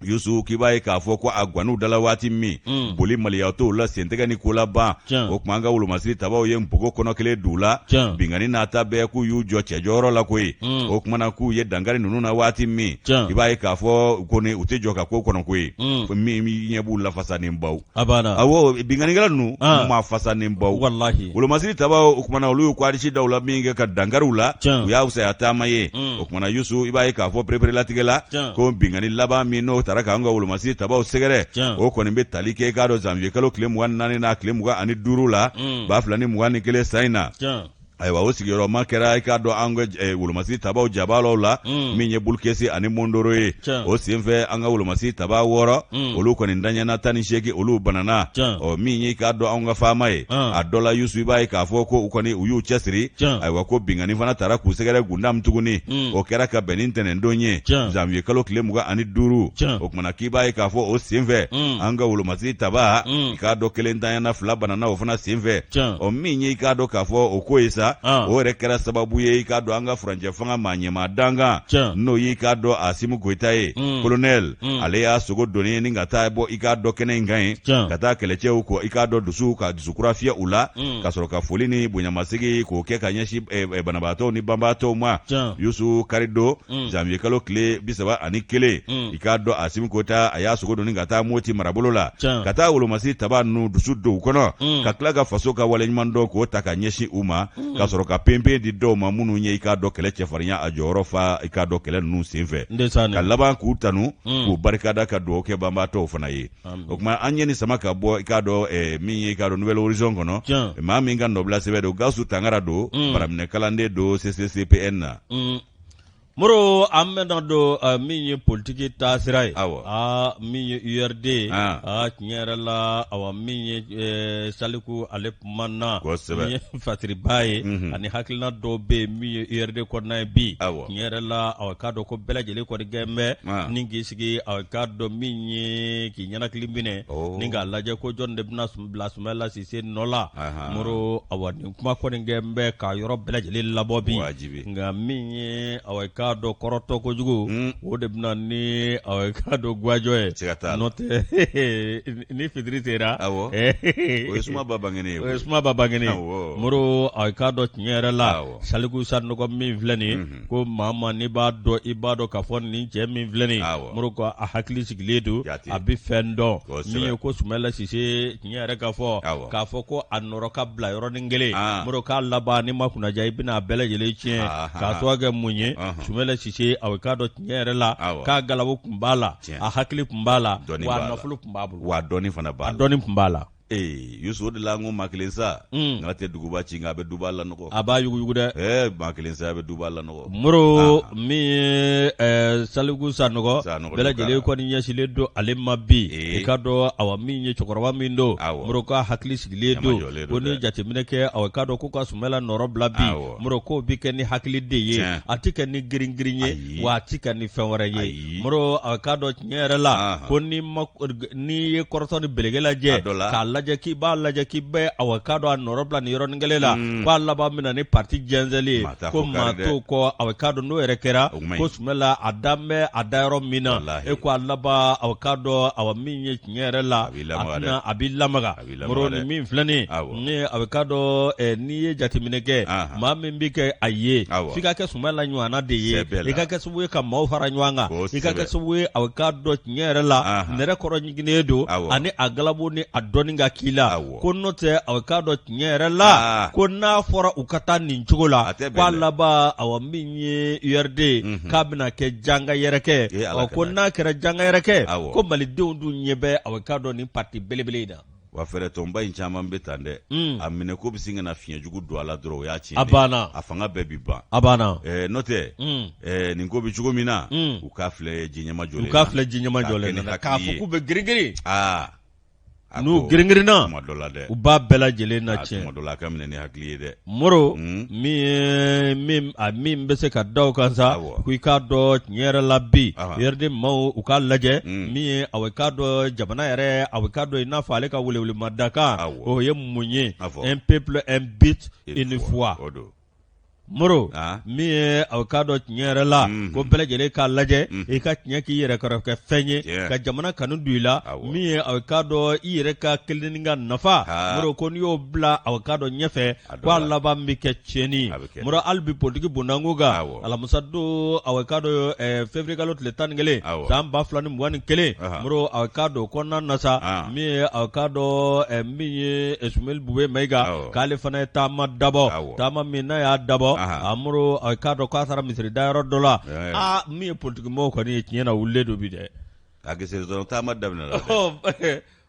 Speaker 1: yusu k'i b'a ye k'a fɔ ko a gwan'u da la waati min hmm. boli maliya t'o la sentɛgɛ ni ko laban o tuma an ka wolomasiri tabaw ye npogo kɔnɔ kelen d'u la binkanni n'a ta bɛɛ k'u y'u jɔ cɛjɔyɔrɔ la koyi hmm. o kumana k'u ye dankari ninnu na waati min i b'a ye k'a fɔ kɔni u tɛ jɔ ka ko kɔnɔ koyi min ɲɛ b'u lafasa ni baw A banna awɔ binkannikɛla ninnu An. u maa fasa ni baw walahi wolomasiri tabaw o kumana olu y'u ko arisi daw la min kɛ ka dankari u la Tiɲɛ. u y'a fisaya taama ye Mm. o kumana yusu i b'a ye k'a fɔ pereperelatigɛ la Tiɲɛ. ko binkanni laban min n'o taara k'an ka wolomasiri tabaw sɛgɛrɛ Tiɲɛ. o kɔni bɛ tali kɛ i k'a dɔn zanwiye kalo tile mugan ni naani n'a tile mugan ani duuru la Mm. ba fila ni mugan ni kelen san in na Tiɲɛ. ayiwa o sigiyɔrɔma kɛra i k'a dɔn an ka eh, wolomasi tabaw jabaalaw la mm. min ye bulukesi ani mondoro ye o senfɛ an ka wolomasi taba wɔɔrɔ mm. olu kɔni danyana tan ni seegin olu banana ɔ min ye i k'a dɔn an ka FAMa ye ah. a dɔ la yusu i b'a ye k'a fɔ ko u kɔni u y'u cɛsiri ayiwa ko binkanni fana taara k'u sɛgɛrɛ gundam tuguni mm. o kɛra ka bɛn ni ntɛnɛndon ye janvier kalo tile mugan ani duuru tuma k'i b'a ye k'a fɔ o senfɛ mm. an ka wolomasi taba mm. i k'a dɔn kelen danyana fila banana o fana senfɛ ɔ min ye i k'a dɔn k'a fɔ o ko ye sa ah. o yɛrɛ kɛra sababu ye i k'a dɔn an ka furancɛ fanga maa ɲɛmaa dankan n'o y'i k'a dɔn asimi goyita ye mm. kolonɛl ale y'a sogo doni ye ni ka taa bɔ i k'a dɔn kɛnɛ in kan ye ka taa kɛlɛcɛw kɔ i k'a dɔn dusu ka dusukura fiyɛ u la ka sɔrɔ ka foli ni bonyamasegin k'o kɛ ka ɲɛsin eh, eh, banabaatɔw ni banbaatɔw ma yusu karidon mm. janvier kalo tile bisaba ani kelen mm. i k'a dɔn asimi goyita a y'a sogo doni ka taa moti marabolo la ka taa wolomasi taba ninnu dusu don u kɔnɔ mm. ka tila ka faso ka waleɲumandɔn k'o ta ka ɲɛsin u ma mm. ka sɔrɔ ka penpen di dɔw ma minnu ye i k'a dɔn kɛlɛ cɛfarinya a jɔyɔrɔ fa i k'a dɔn kɛlɛ ninnu senfɛ ka laban k'u tanu mm. k'u barikada ka dugawu kɛ banbaatɔw fana ye o kuma an ye nin sama ka bɔ i k'a dɔn eh, min ye i k'a dɔn nouvelle horizon kɔnɔ maa min ka nɔbila sɛbɛn don gawusu tangara don baraminɛ kalanden don ccpn na Moro
Speaker 2: an bɛna don uh, min ye politiki taasira ye awɔ uh, min ye URD ye ah. uh, tiɲɛ yɛrɛ la awa min ye uh, Saliku ale kumana min ye fasiriba ye mm -hmm. ani hakilina dɔw bɛ yen min ye URD kɔnɔna ye bi awɔ tiɲɛ yɛrɛ la awa k'a dɔn ko bɛɛ lajɛlen kɔni gɛn bɛ ah. ni k'i sigi awa k'a dɔn min ye k'i ɲɛnakili minɛ oh. ni k'a lajɛ ko jɔn de bɛna bila Sumayila Sise nɔ la Moro awa nin kuma kɔni gɛn bɛ ka yɔrɔ bɛɛ lajɛlen labɔ bi nka min ye aw k'a dɔn kɔrɔtɔ kojugu o de bɛ na ni aw k'a dɔn gajɔ ye n'o tɛ ni fitiri sera o
Speaker 1: ye sumaba
Speaker 2: bangenen moro aw k'a dɔn tiɲɛ yɛrɛ la saliku sanɔgɔ min filɛ nin ko maa maa n'i b'a dɔn i b'a dɔn k'a fɔ nin cɛ min filɛ nin moro ko a hakili sigilen don a bɛ fɛn dɔn min ye ko sumayila sise tiɲɛ yɛrɛ ka fɔ Awɔ. k'a fɔ ko a nɔrɔ ka bila yɔrɔnin kelen Ah. Moro k'a laban ni ma kunnaja i bɛna a bɛɛ lajɛlen tiɲɛ Ah, ah, k'a ah. sababu kɛ mun ye Ɔhɔn. Sumala Sise a bɛ k'a dɔn tiɲɛ yɛrɛ la Awɔ. k'a galabu kun b'a la Tiɲɛ. a hakili kun b'a la wa a nafolo kun b'a bolo wa a dɔnni fana b'a la
Speaker 1: dɔnni kun b'a
Speaker 2: la ee Yusu o
Speaker 1: de la n ko maa kelen sa Mm. nka tɛ duguba ci nka a bɛ duba lanɔgɔ a b'a yuguyugu dɛ
Speaker 2: ɛɛ maa kelen sa a bɛ duba
Speaker 1: lanɔgɔ Moro
Speaker 2: min ye Saliku Sanɔgɔ bɛɛ lajɛlen kɔni ɲɛsinlen don ale ma bi i k'a dɔn a min ye cɛkɔrɔba min don Moro k'a hakili sigilen don ko ni jateminɛ kɛ a k'a dɔn ko ka Sumala nɔrɔ bila bi Moro k'o bɛ kɛ ni hakili de ye a tɛ kɛ ni girin-girin ye wa a tɛ kɛ ni fɛn wɛrɛ ye Moro a k'a dɔn tiɲɛ yɛrɛ la ko ni n'i ye kɔrɔtɔ ni belege lajɛ k'a lajɛ k'i b'a lajɛ k'i bɛ a k'a dɔn a nɔrɔ bila nin yɔrɔnin kelen la k'a laban min na ni pati jɛnsɛnlen ye ko maa t'o kɔ a bɛ k'a dɔn n'o yɛrɛ kɛra ko Sumala a da n bɛ a da yɔrɔ min na e ko a laban a k'a dɔn a min ye tiɲɛ yɛrɛ la a bɛ la Moro ni min filɛ nin ye a bɛ k'a dɔn n'i ye jateminɛ kɛ maa min bɛ kɛ a ye f'i ka kɛ Sumala ɲɔgɔnna de ye i ka kɛ sababu ye ka maaw fara ɲɔgɔn kan i ka kɛ sababu ye a bɛ k'a dɔn tiɲɛ yɛrɛ la nɛrɛ kɔrɔ ɲiginnen don ani a galabu ni a dɔnni ka k'i la ko n'o tɛ a k'a dɔn tiɲɛ yɛrɛ la ko n'a fɔra u ka taa nin cogo la ko a laban a min ye URD k'a bɛna kɛ janga yɛrɛkɛ ko n'a kɛra janga yɛrɛkɛ ko malidenw dun ɲɛ bɛ a k'a dɔn pati belebele in na wa fɛɛrɛtɔnba
Speaker 1: in caman bɛ tan dɛ hmm. a minɛ ko bɛ sin ka na fiɲɛ jugu don a la dɔrɔn o y'a tiɲɛ a banna a fanga
Speaker 2: bɛɛ
Speaker 1: bi
Speaker 2: ban
Speaker 1: a banna eh, n'o
Speaker 2: tɛ hmm.
Speaker 1: eh, nin ko bɛ cogo min na hmm. u k'a
Speaker 2: filɛ ji
Speaker 1: ɲɛmajɔlen u
Speaker 2: k'a
Speaker 1: filɛ ji
Speaker 2: ɲɛmajɔlen
Speaker 1: na k'a
Speaker 2: fɔ k'u
Speaker 1: bɛ girin-girin
Speaker 2: aa ah. n'u girin-girinna u b'a bɛɛ lajɛlen na tiɲɛ tuma dɔ la a ka minɛ ni hakili ye dɛ Moro min ye min min n bɛ se ka da o kan sa ko i k'a dɔn tiɲɛ yɛrɛ la bi URD maaw u k'a lajɛ min ye a k'a dɔn jamana yɛrɛ a k'a dɔn i n'a fɔ ale ka welewelemadakan o ye mun ye un peuple un but une foi Moro min ye a k'a dɔn tiɲɛ yɛrɛ la ko bɛɛ lajɛlen k'a lajɛ i ka tiɲɛ k'i yɛrɛ kɔrɔkɛ fɛn ye ka jamana kanu don i la min ye a k'a dɔn i yɛrɛ ka kelenni ka nafa Moro ko n'i y'o bila a k'a dɔn ɲɛfɛ ko a laban bɛ kɛ tiɲɛni Moro hali bi politigi bondanko kan alamisa don a k'a dɔn février kalo tile tan ni kelen san ba fila ni mugan ni kelen Moro a k'a dɔn kɔnɔna na sa min ye a k'a dɔn min ye Sumeli Bube Mayiga k'ale fana ye taama dabɔ taama min n'a y'a dabɔ a Moro a k'a dɔn k'a taara misiri da yɔrɔ dɔ la aa min ye politigimɔgɔw kɔni ye tiɲɛ na wulilen don bi dɛ A gesesɔn
Speaker 1: taama daminɛ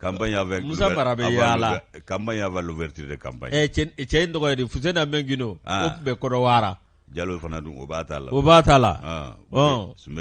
Speaker 1: kanfɛ musa mara bɛ yalala
Speaker 2: kanti
Speaker 1: de kanba cɛ in tɔgɔ
Speaker 2: fu na bɛ gdo u tun bɛ kɔrɔwa jalo fana don
Speaker 1: o b'a la o b'a ta la sunb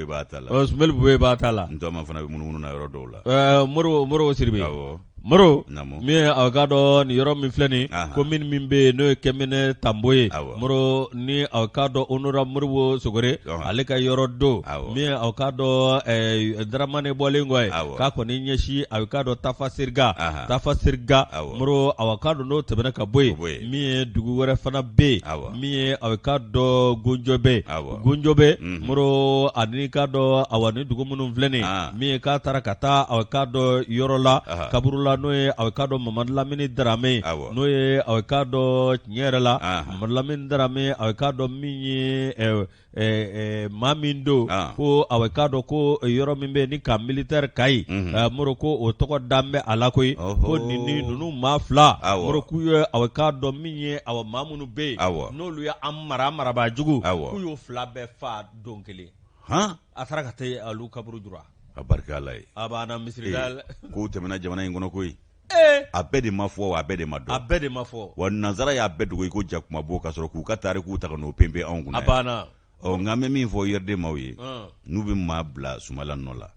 Speaker 1: b'a la sunb b'a ta la
Speaker 2: n fana bɛ mununu na yɔrɔ
Speaker 1: dɔw la mori mori siri bɛ
Speaker 2: Moro min ye aw k'a dɔn nin yɔrɔ min filɛ nin komini min bɛ yen n'o ye Kɛmɛnɛ Tanbo ye Moro ni aw k'a dɔn honorable Moribo Sogore ale ka yɔrɔ don min ye aw k'a dɔn Daramane bɔlen kɔ ye k'a kɔni ɲɛsin a k'a dɔn Tafasiriga Tafasiriga Moro a k'a dɔn n'o tɛmɛna ka bɔ yen min ye dugu wɛrɛ fana bɛ yen min ye a k'a dɔn Gunjɔbɛ Gunjɔbɛ Moro ani k'a dɔn awa nin dugu minnu filɛ nin min ye k'a taara ka taa a k'a dɔn yɔrɔ la kaburu la n'o ye a k'a dɔn Mamadu Lamini Darame n'o ye a k'a dɔn tiɲɛ yɛrɛ la Mamadu Lamini Darame a k'a dɔn min ye maa min don ko a k'a dɔn ko yɔrɔ min bɛ ni camp militaire Kayi Moro ko o tɔgɔ dalen bɛ a la koyi ko nin ninnu maa fila Moro k'u ye a k'a dɔn min ye awa maa minnu bɛ yen n'olu ye mara marabaa jugu k'u y'o fila bɛɛ faa don kelen a taara ka taa olu kaburu jura a barika Ala ye
Speaker 1: a b'a misiri
Speaker 2: ko tɛmɛna jamana
Speaker 1: in kɔnɔ koyi a bɛɛ de ma fɔ a bɛɛ de ma dɔn a bɛɛ de ma fɔ wa nansara y'a bɛɛ dogo i ko jakuma bo ka sɔrɔ k'u ka tariku ta ka n'o pɛnpɛ anw kun na a
Speaker 2: banna
Speaker 1: ɔ
Speaker 2: nka an bɛ min
Speaker 1: fɔ URD maaw ye n'u bɛ maa bila Sumala nɔ la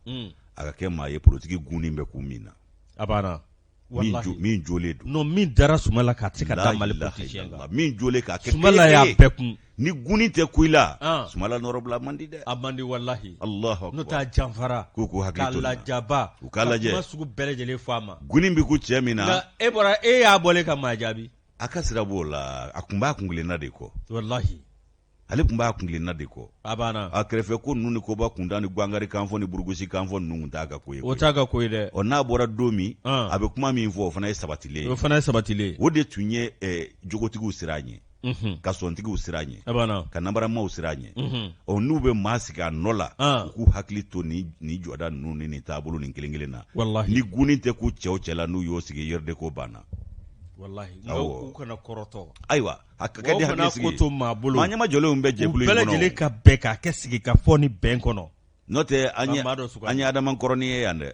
Speaker 1: a ka kɛ maa ye politiki gunin bɛ ku min na a banna min jɔlen don non min dara Sumala
Speaker 2: kan a tɛ se ka da Mali politicien kan, min jɔlen k'a kɛ
Speaker 1: Sumala y'a bɛɛ kun,
Speaker 2: ni guni tɛ ku
Speaker 1: i la, an, Sumala nɔrɔbila a man di dɛ, a man di walahi,
Speaker 2: Alahu akbar, n'o tɛ a janfara,
Speaker 1: k'u
Speaker 2: k'u hakili to nin na,
Speaker 1: k'a lajaba, u
Speaker 2: k'a lajɛ, ka kuma
Speaker 1: sugu bɛɛ lajɛlen fɔ
Speaker 2: a ma, guni bɛ ku cɛ min
Speaker 1: na, nka e bɔra e y'a
Speaker 2: bɔlen ka maa jaabi, a ka sira b'o la,
Speaker 1: a tun b'a kuntilenna de kɔ, walahi
Speaker 2: ale tun
Speaker 1: b'a kuntilenna de kɔ a banna a
Speaker 2: kɛrɛfɛ ko ninnu
Speaker 1: ni koba kuntan ni gwangari kanfɔ ni burugusi kanfɔ ninnu tun t'a ka ko ye o t'a ka ko ye dɛ
Speaker 2: ɔ n'a bɔra don min
Speaker 1: a bɛ kuma min fɔ o fana ye sabatilen o fana ye sabatilen o de tun ye jogotigiw siran a ɲɛ Mhm. ka sɔntigiw siran a ɲɛ ka nanbaramaw siran a ɲɛ mhm. ɔ n'u bɛ maa sigi a nɔ la ah. u k'u hakili to ni jɔda ninnu ni nin taabolo nin kelen kelen na ni gunni tɛ k'u cɛw cɛ la n'u y'o sigi URD ko banna
Speaker 2: ayiwa a ka
Speaker 1: kɛ ni hakili sigi ye. Mɔgɔw kana ko to maa bolo. Maa
Speaker 2: ɲɛma jɔlenw bɛ
Speaker 1: jɛkulu in kɔnɔ. U bɛɛ lajɛlen ka bɛn
Speaker 2: k'a kɛ sigikafɔ ni bɛn kɔnɔ. N'o tɛ an ye
Speaker 1: an ye Adema kɔrɔnin ye yan dɛ.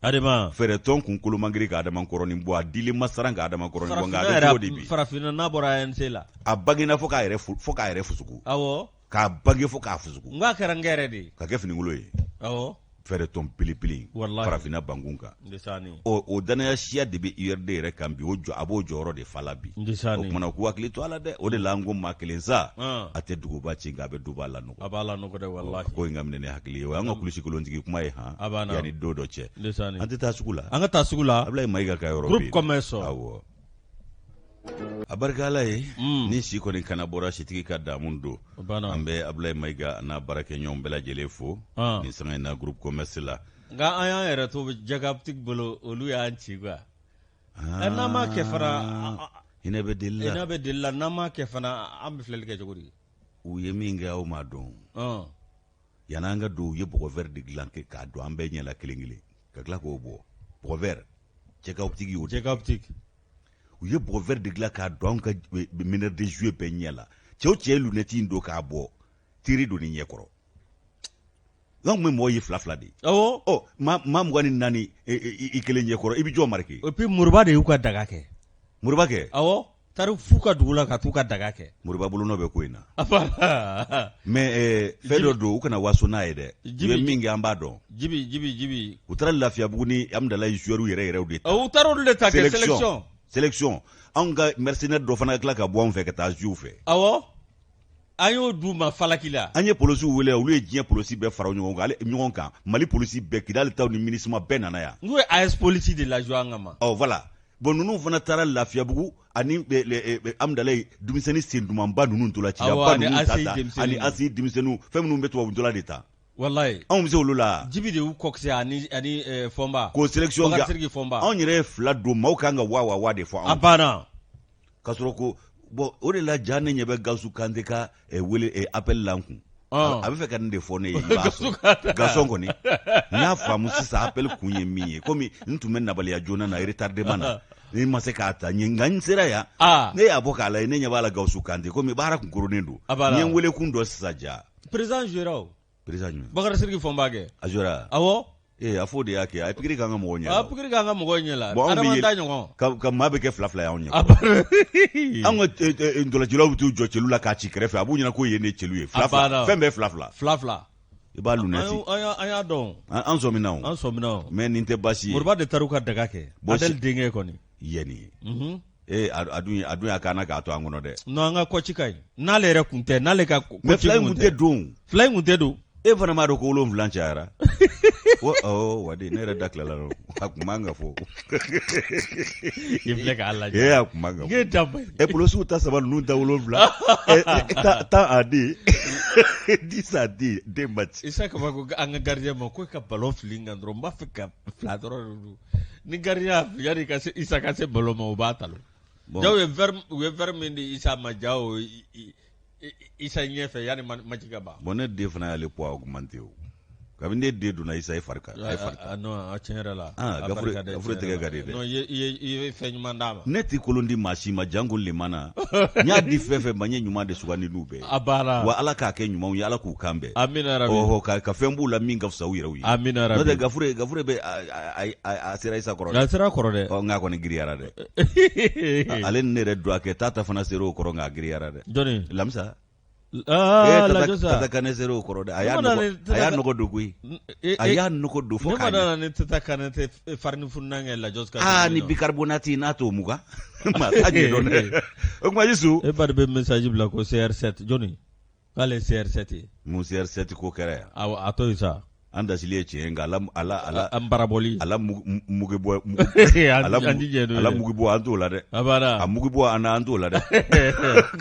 Speaker 2: Adema. Fɛɛrɛtɔn
Speaker 1: kunkolo man girin ka Adema kɔrɔnin bɔ a dili ma siran ka Adema kɔrɔnin bɔ nka a bɛ cogo di bi. Farafinna n'a bɔra ANC
Speaker 2: la. A bangena fo k'a
Speaker 1: yɛrɛ fo k'a yɛrɛ fusuku. Awɔ. k'a bange fo k'a fusuku n k'a kɛra n kɛrɛ de
Speaker 2: ye k'a kɛ finikolon
Speaker 1: ye awɔ fɛɛrɛtɔn belebele Walahi. farafinna bankun kan ndesani o o dannaya siya de bɛ URD yɛrɛ kan bi o jɔ a b'o jɔyɔrɔ de fa la bi o ndesani kumana u k'u hakili to a la dɛ o de la an ko maa kelen sa Ɔn. a tɛ duguba ci nka a bɛ duba lanɔgɔ a b'a lanɔgɔ dɛ
Speaker 2: walahi ko in ka minɛ ni hakili
Speaker 1: ye o y'an ka kulusi kolontigi kuma ye han A b'a na. yanni don dɔ cɛ ndesani an tɛ taa sugu la an ka taa sugu la Abulayi
Speaker 2: Mayiga ka yɔrɔ bɛ Groupe
Speaker 1: yen. commerce. awɔ a barika ala ye mm. ni si kɔni kana bɔra sitigi ka damu don an bɛ abulayi mayiga an'a baarakɛɲɔgɔn bɛɛ lajɛlen fo ah. nin sanga in na groupe commerce la nka an y'an yɛrɛ
Speaker 2: to jaga optique bolo olu y'an ci quoi ah. n'an m'a kɛ fana hinɛ bɛ deli la
Speaker 1: hinɛ bɛ deli la n'an m'a kɛ fana
Speaker 2: an bɛ filɛli kɛ cogo di u ye min kɛ
Speaker 1: aw m'a dɔn ah. yanni an ka don u ye bɔgɔ vɛri de dilan kɛ k'a don an bɛɛ ɲɛ la kelen kelen ka tila k'o bɔ bɔgɔ vɛri jaga optique o jaga optique u ye bɔgɔ vɛri de dilan k'a don an ka meneur de jeu bɛɛ ɲɛ la cɛ o cɛ ye lunɛti in don k'a bɔ teri don ni ɲɛ kɔrɔ an kun bɛ mɔgɔ ye fila fila de ye awɔ ɔ maa maa mugan ni naani
Speaker 2: e, e,
Speaker 1: i
Speaker 2: kelen ɲɛ
Speaker 1: kɔrɔ i bɛ jɔ marquer
Speaker 2: et puis
Speaker 1: moriba de
Speaker 2: y'u ka
Speaker 1: daga kɛ
Speaker 2: moriba
Speaker 1: kɛ
Speaker 2: awɔ taara f'u ka dugu la ka t'u ka daga kɛ moriba bolonɔ bɛ ko in
Speaker 1: na mais eh, fɛn dɔ don u kana waso n'a ye dɛ i bɛ min kɛ an b'a dɔn jibi jibi jibi
Speaker 2: u taara
Speaker 1: lafiyabugu ni amudalayi zuwɛriw yɛrɛ yɛrɛw de ta u taara olu de ta kɛ
Speaker 2: selection
Speaker 1: selection anw ka mercenaire dɔ fana ka tila ka bɔ anw fɛ ka taa zuwe u fɛ awɔ
Speaker 2: an y'o d'u ma falaki la an ye polisiw wele
Speaker 1: olu ye diɲɛ polisi bɛɛ fara ɲɔgɔn kan ɲɔgɔn kan mali polisi bɛɛ kidali taw ni minusma bɛɛ nana yan n'u ye as polisi de
Speaker 2: lajɔ an kama ɔ voilà bon ninnu
Speaker 1: fana taara lafiyabugu ani eh, eh, eh, amudalayi denmisɛnnin sen dumanba ninnu ntola cibaa ninnu ta ta ani asi denmisɛnninw fɛn minnu bɛ tubabu ntola de ta walayi anw bɛ
Speaker 2: se olu
Speaker 1: la jibi de y'u coaché ani
Speaker 2: ani fɔnba k'o selection kɛ
Speaker 1: anw yɛrɛ ye fila don maaw kan ka wa wa wa de fɔ anw a banna
Speaker 2: ka
Speaker 1: sɔrɔ ko bon o de la ja ne ɲɛ bɛ gawusu kante ka eh, wele eh, apɛli la n kun ah. a bɛ fɛ ka nin de fɔ ne ye gaston kɔni n y'a faamu sisan apɛli kun ye min ye komi n tun bɛ nabaliya joona na retardement na ne ma se k'a ta ɲɛ nka n sera yan ah. ne y'a bɔ k'a lajɛ ne ɲɛ b'a la gawusu kante komi baara kun koronnen don n ye n wele kun dɔn sisan ja président zuwera
Speaker 2: président jumɛn bakari
Speaker 1: siriki fɔnba
Speaker 2: kɛ a zuwera
Speaker 1: awɔ ee
Speaker 2: a fɔ de y'a
Speaker 1: kɛ a ye pikiri k'an ka mɔgɔw ɲɛ a pikiri k'an ka mɔgɔw
Speaker 2: ɲɛ la bon, adama ta ɲɔgɔn ka, ka maa bɛ kɛ fila fila y'anw
Speaker 1: ɲɛ an ka eh, eh, ntolancilaw bɛ t'u jɔ celu la k'a ci kɛrɛfɛ a b'u ɲɛna k'o ye ne celu ye fila fila fɛn bɛɛ fila fila fila fila i b'a lunɛti an y'a
Speaker 2: dɔn an sɔmina o an
Speaker 1: sɔmina o mais nin tɛ baasi ye moriba de taar'u ka daga kɛ
Speaker 2: adɛli denkɛ kɔni yɛni ye
Speaker 1: ee a dun a dun y'a kana k'a to an kɔnɔ dɛ non an ka kɔci ka
Speaker 2: ɲi n'ale yɛrɛ kun tɛ n'ale ka mais fila in kun tɛ
Speaker 1: don fila in kun tɛ don e fana m'a dɔn ko wolonwula cayara ko awɔ wadi ne yɛrɛ da tilala dɔrɔn a kun man ka fɔ
Speaker 2: i filɛ k'a lajɛ ee a kun man ka fɔ
Speaker 1: da e polosiw ta saba ninnu da wolonwula tan a di dix a di den match isa kaba ko an ka
Speaker 2: gardien ma ko ka ballon fili n kan dɔrɔn n b'a fɛ ka fila dɔrɔn de don ni gardien yani ka se isa ka se ballon ma o b'a talo jaw ye verre u ye verre min di isa ma jaw isa ɲɛfɛ yani match ka ban bon ne den fana y'ale poids
Speaker 1: augmenter o kabini ne den donna isa ye fari kan a ye fari kan non a
Speaker 2: tiɲɛ yɛrɛ la ah gafure gafure tɛgɛ
Speaker 1: ka di dɛ non i ye i ye fɛn
Speaker 2: ɲuman d'a ma ne tɛ kolon di maa si
Speaker 1: ma janko lemana n y'a di fɛn fɛn ma n ye ɲuman de sugandi n'u bɛɛ a baara wa ala k'a
Speaker 2: kɛ ɲumanw ye
Speaker 1: ala k'u kan bɛn amina ɔhɔ ka,
Speaker 2: ka fɛn b'u la min ka
Speaker 1: fisa u yɛrɛw ye amina n'o tɛ gafure
Speaker 2: gafure bɛ
Speaker 1: a sera isa kɔrɔ dɛ a sera kɔrɔ dɛ ɔ nka
Speaker 2: kɔni giriyara dɛ
Speaker 1: ale ni ne yɛrɛ don a kɛ tata fana sera o kɔrɔ nka a giriyara dɛ jɔni lamisa Ah, eh,
Speaker 2: lajo sa. Tata kane sera o
Speaker 1: kɔrɔ dɛ. A y'a nɔgɔ a y'a nɔgɔ don koyi. Eh, a eh, y'a nɔgɔ don fo k'a ɲɛ. Ne ma nana ni tata kane
Speaker 2: tɛ farini fununan kɛ lajo ka. Ah ni bicarbonate n'a
Speaker 1: t'o mugan. maa t'a ɲɛ dɔn dɛ o tuma Isu e ba de bɛ message
Speaker 2: bila ko CR7 jɔni k'ale ye CR7 ye mun CR7 ko
Speaker 1: kɛra yan awɔ a to yen sa
Speaker 2: an dasili ye tiɲɛ
Speaker 1: ye nka ala ala ala an barabɔli ala mugubɔ ala mugubɔ an t'o la dɛ a mugu bɔ an
Speaker 2: an t'o la
Speaker 1: dɛ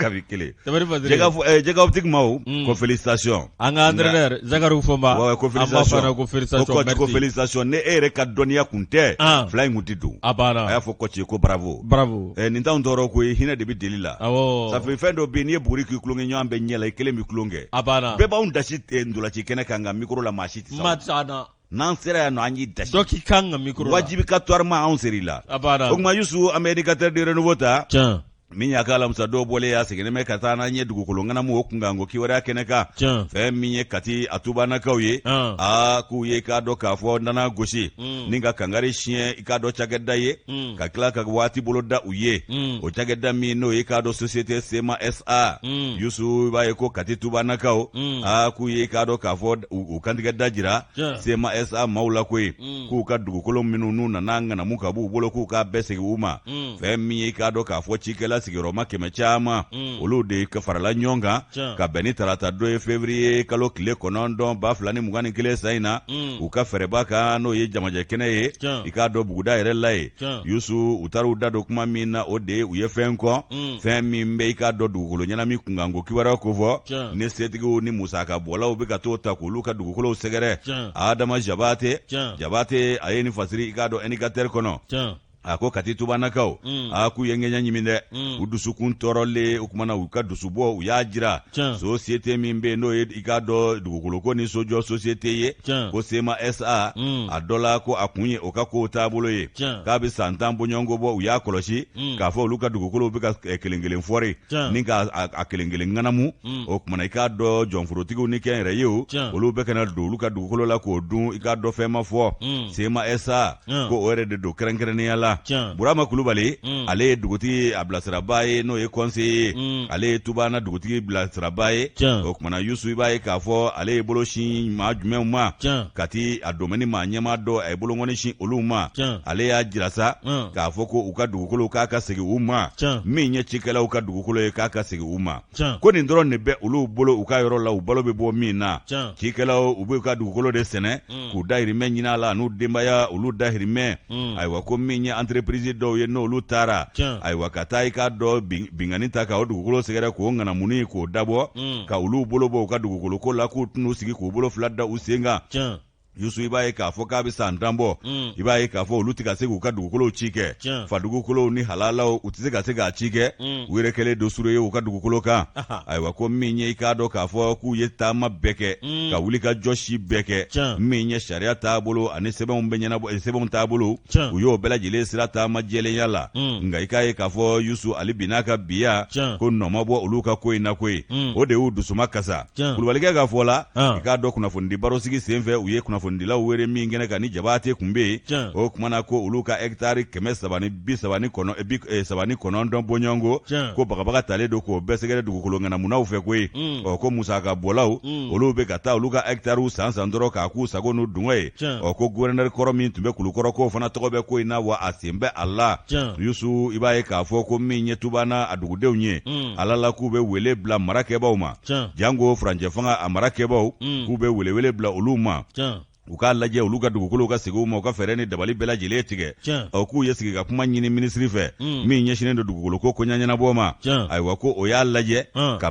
Speaker 1: kabi kelen Tabari Faziri. Jɛgɛ fɔ ɛɛ jɛgɛwtigi maaw. Un. Ko félicitations. An ka
Speaker 2: entraîneur Zakari Fɔnba. Wayi, ko An b'a félicitations. fɔ a la ko
Speaker 1: félicitations, Ko coach ko merci. félicitations. Ni e yɛrɛ ka dɔnniya kun tɛ. An. Fila in kun tɛ don. A banna. A y'a fɔ coach ye ko bravo. Bravo. Ɛɛ nin t'anw tɔɔrɔ koyi, hinɛ de bɛ deli la. Awɔ. Safi fɛn dɔ bɛ yen, n'i ye buguri k'i tulonkɛ ɲɔgɔn bɛɛ ɲɛ la, i kelen bɛ tulon kɛ. A banna. Bɛɛ b'anw dasi eh, ntolaci kɛnɛ kan nka micro la maa si tɛ se. Maa tɛ se an na. n'an sera yan nɔ an y'i dasi dɔ k'i kan ka mikoro
Speaker 2: la wajibikatoirement anw ser'i
Speaker 1: la a b'a o tuma yusu an bɛ indicateur du renouveau ta tiɲɛ min y'a ka alamisa don bɔlen ye a seginnen bɛ ka taa n'an ye dugukolo ŋanamu o kunkanko kibaruya kɛnɛ kan fɛn min ye kati a tubanakaw ye a k'u ye k'a dɔn k'a fɔ nana gosi mm. ni ka kangari siɲɛ i k'a dɔn cakɛda ye mm. ka tila ka waati bolo da u ye mm. o cakɛda min n'o ye k'a dɔn société sema sa yusu i b'a ye ko kati tubanakaw a k'u ye k'a dɔn k'a fɔ u kantigɛ dajira sema sa maaw la koyi mm. k'u ka dugukolo minnu n'u nana ŋanamu ka b'u bolo k'u k'a bɛɛ segin u ma mm. fɛn min ye k'a dɔn k'a fɔ cikɛla sigiyɔrɔma kɛmɛ caman mm. olu de farala ɲɔgɔn kan ka bɛn ni tarata don ye fevriye kalo tile kɔnɔntɔn ba fila ni mugan ni kelen san in na u ka fɛrɛba kan n'o ye jamajɛ kɛnɛ ye i k'a dɔn buguda yɛrɛ la ye yusu u taara u da don kuma min na o de ye u ye fɛn kɔ mm. fɛn min bɛ i k'a dɔn dugukolo ŋanamu kunkanko kibaruya kofɔ ni setigiw ni musaka bɔlaw bɛ ka to taa k'olu ka dugukolow sɛgɛrɛ adama jabate jabate a ye nin fasiri i k'a dɔn indicateur kɔnɔ a ko kati tubanakaw mm. a k'u ye ŋɛɲɛ ɲimi dɛ mm. u dusukun tɔɔrɔlen o kumana u ka dusubɔ u y'a jira sosiyete min bɛ yen n'o ye i k'a dɔn dugukolo ko ni sojɔ sosiyete ye ko sema sa mm. a dɔ la ko a kun ye o ka kow taabolo ye k'a bɛ san tan bɔɲɔgɔnko bɔ u y'a kɔlɔsi mm. k'a fɔ olu ka dugukolow bɛ ka eh, kelen kelen fɔri ni k'a kelen kelen ŋanamu mm. o tumana i k'a dɔn jɔnforotigiw ni kɛnyɛrɛyew olu bɛ ka na don olu ka dugukolo la k'o dun i k'a dɔn fɛn ma fɔ sema sa ko o yɛrɛ de don kɛrɛnkɛrɛnnenya la burama kulubali ale ye dugutigi a bilasiraba ye n'o ye conseiller ye ale ye tubana dugutigi bilasiraba ye o kumana yusu i b'a ye k'a fɔ ale ye bolo sin maa jumɛnw ma kati a domaine maa ɲɛma dɔ a ye bolongɔni sin olu ma ale y'a jira sa k'a fɔ ko u ka dugukolo k'a ka segin u ma min ye cikɛlaw ka dugukolo ye k'a ka segin u ma ko nin dɔrɔn de bɛ olu bolo u ka yɔrɔ la u balo bɛ bɔ min na cikɛlaw u b'u ka dugukolo de sɛnɛ mm. k'u dahirimɛ ɲinin a la n'u denbaya olu dahirimɛ mm. ayiwa ko min ye entreprise dɔw ye n'olu taara ayiwa ka taa i k'a dɔn binkanni ta ka o dugukolo sɛgɛrɛ k'o ŋanamunni k'o dabɔ mm. ka olu bolo bɔ u ka dugukoloko la k'u tɛn'u sigi k'u bolo fila da u sen kan yusu i b'a ye k'a fɔ k'a bɛ san tan bɔ mm. i b'a ye k'a fɔ olu tɛ ka se k'u ka dugukolow ci kɛ fa dugukolow ni halalaw u tɛ se ka se k'a ci kɛ mm. u yɛrɛ kɛlen don sure ye u ka dugukolo kan ayiwa ko min ye i k'a dɔn k'a fɔ k'u ye taama bɛɛ kɛ mm. ka wuli ka jɔ si bɛɛ kɛ min ye sariya taabolo ani sɛbɛnw bɛ ɲɛnabɔ eh, sɛbɛnw taabolo u y'o bɛɛ lajɛlen sira taama jɛlenya la nka i k'a ye k'a fɔ yusu ali bi n'a ka biya ko nɔ ma bɔ olu ka ko in na koyi o de y'u dusuma kasa kulubalikɛ ka fɔ la i k'a dɔn kunnafonidi barosigi senfɛ u ye kunnafonidilaw wele min kɛnɛ kan ni jabate tun bɛ yen o kumana ko olu ka hɛkitari kɛmɛ saba ni bi saba ni kɔnɔntɔn bɔɲɔgɔnko ko bagabaga talen don k'o bɛɛ sɛgɛrɛ dugukolo ŋanamunaw fɛ koyi ɔ ko musaka bɔlaw olu bɛ ka taa olu ka hɛkitariw san san dɔrɔn k'a k'u sago n'u dungɔ ye ɔ ko guwɛrinɛri kɔrɔ min tun bɛ kulukɔrɔ k'o fana tɔgɔ bɛ ko in na wa a sen bɛ a la yusu i b'a ye k'a fɔ ko min ye tubana a dugudenw ye ala la k'u bɛ wele bila marakɛbaw ma janko furancɛ fanga a marakɛbaw k'u bɛ welewele bila olu ma u k'a lajɛ olu ka dugukolo ka segin u ma u ka fɛɛrɛ ni dabali bɛɛ lajɛlen tigɛ ɔ k'u ye sigi ka kuma ɲini minisiri fɛ min ɲɛsinnen don dugukolo ko ko ɲɛnabɔ ma ayiwa ko o y'a lajɛ ka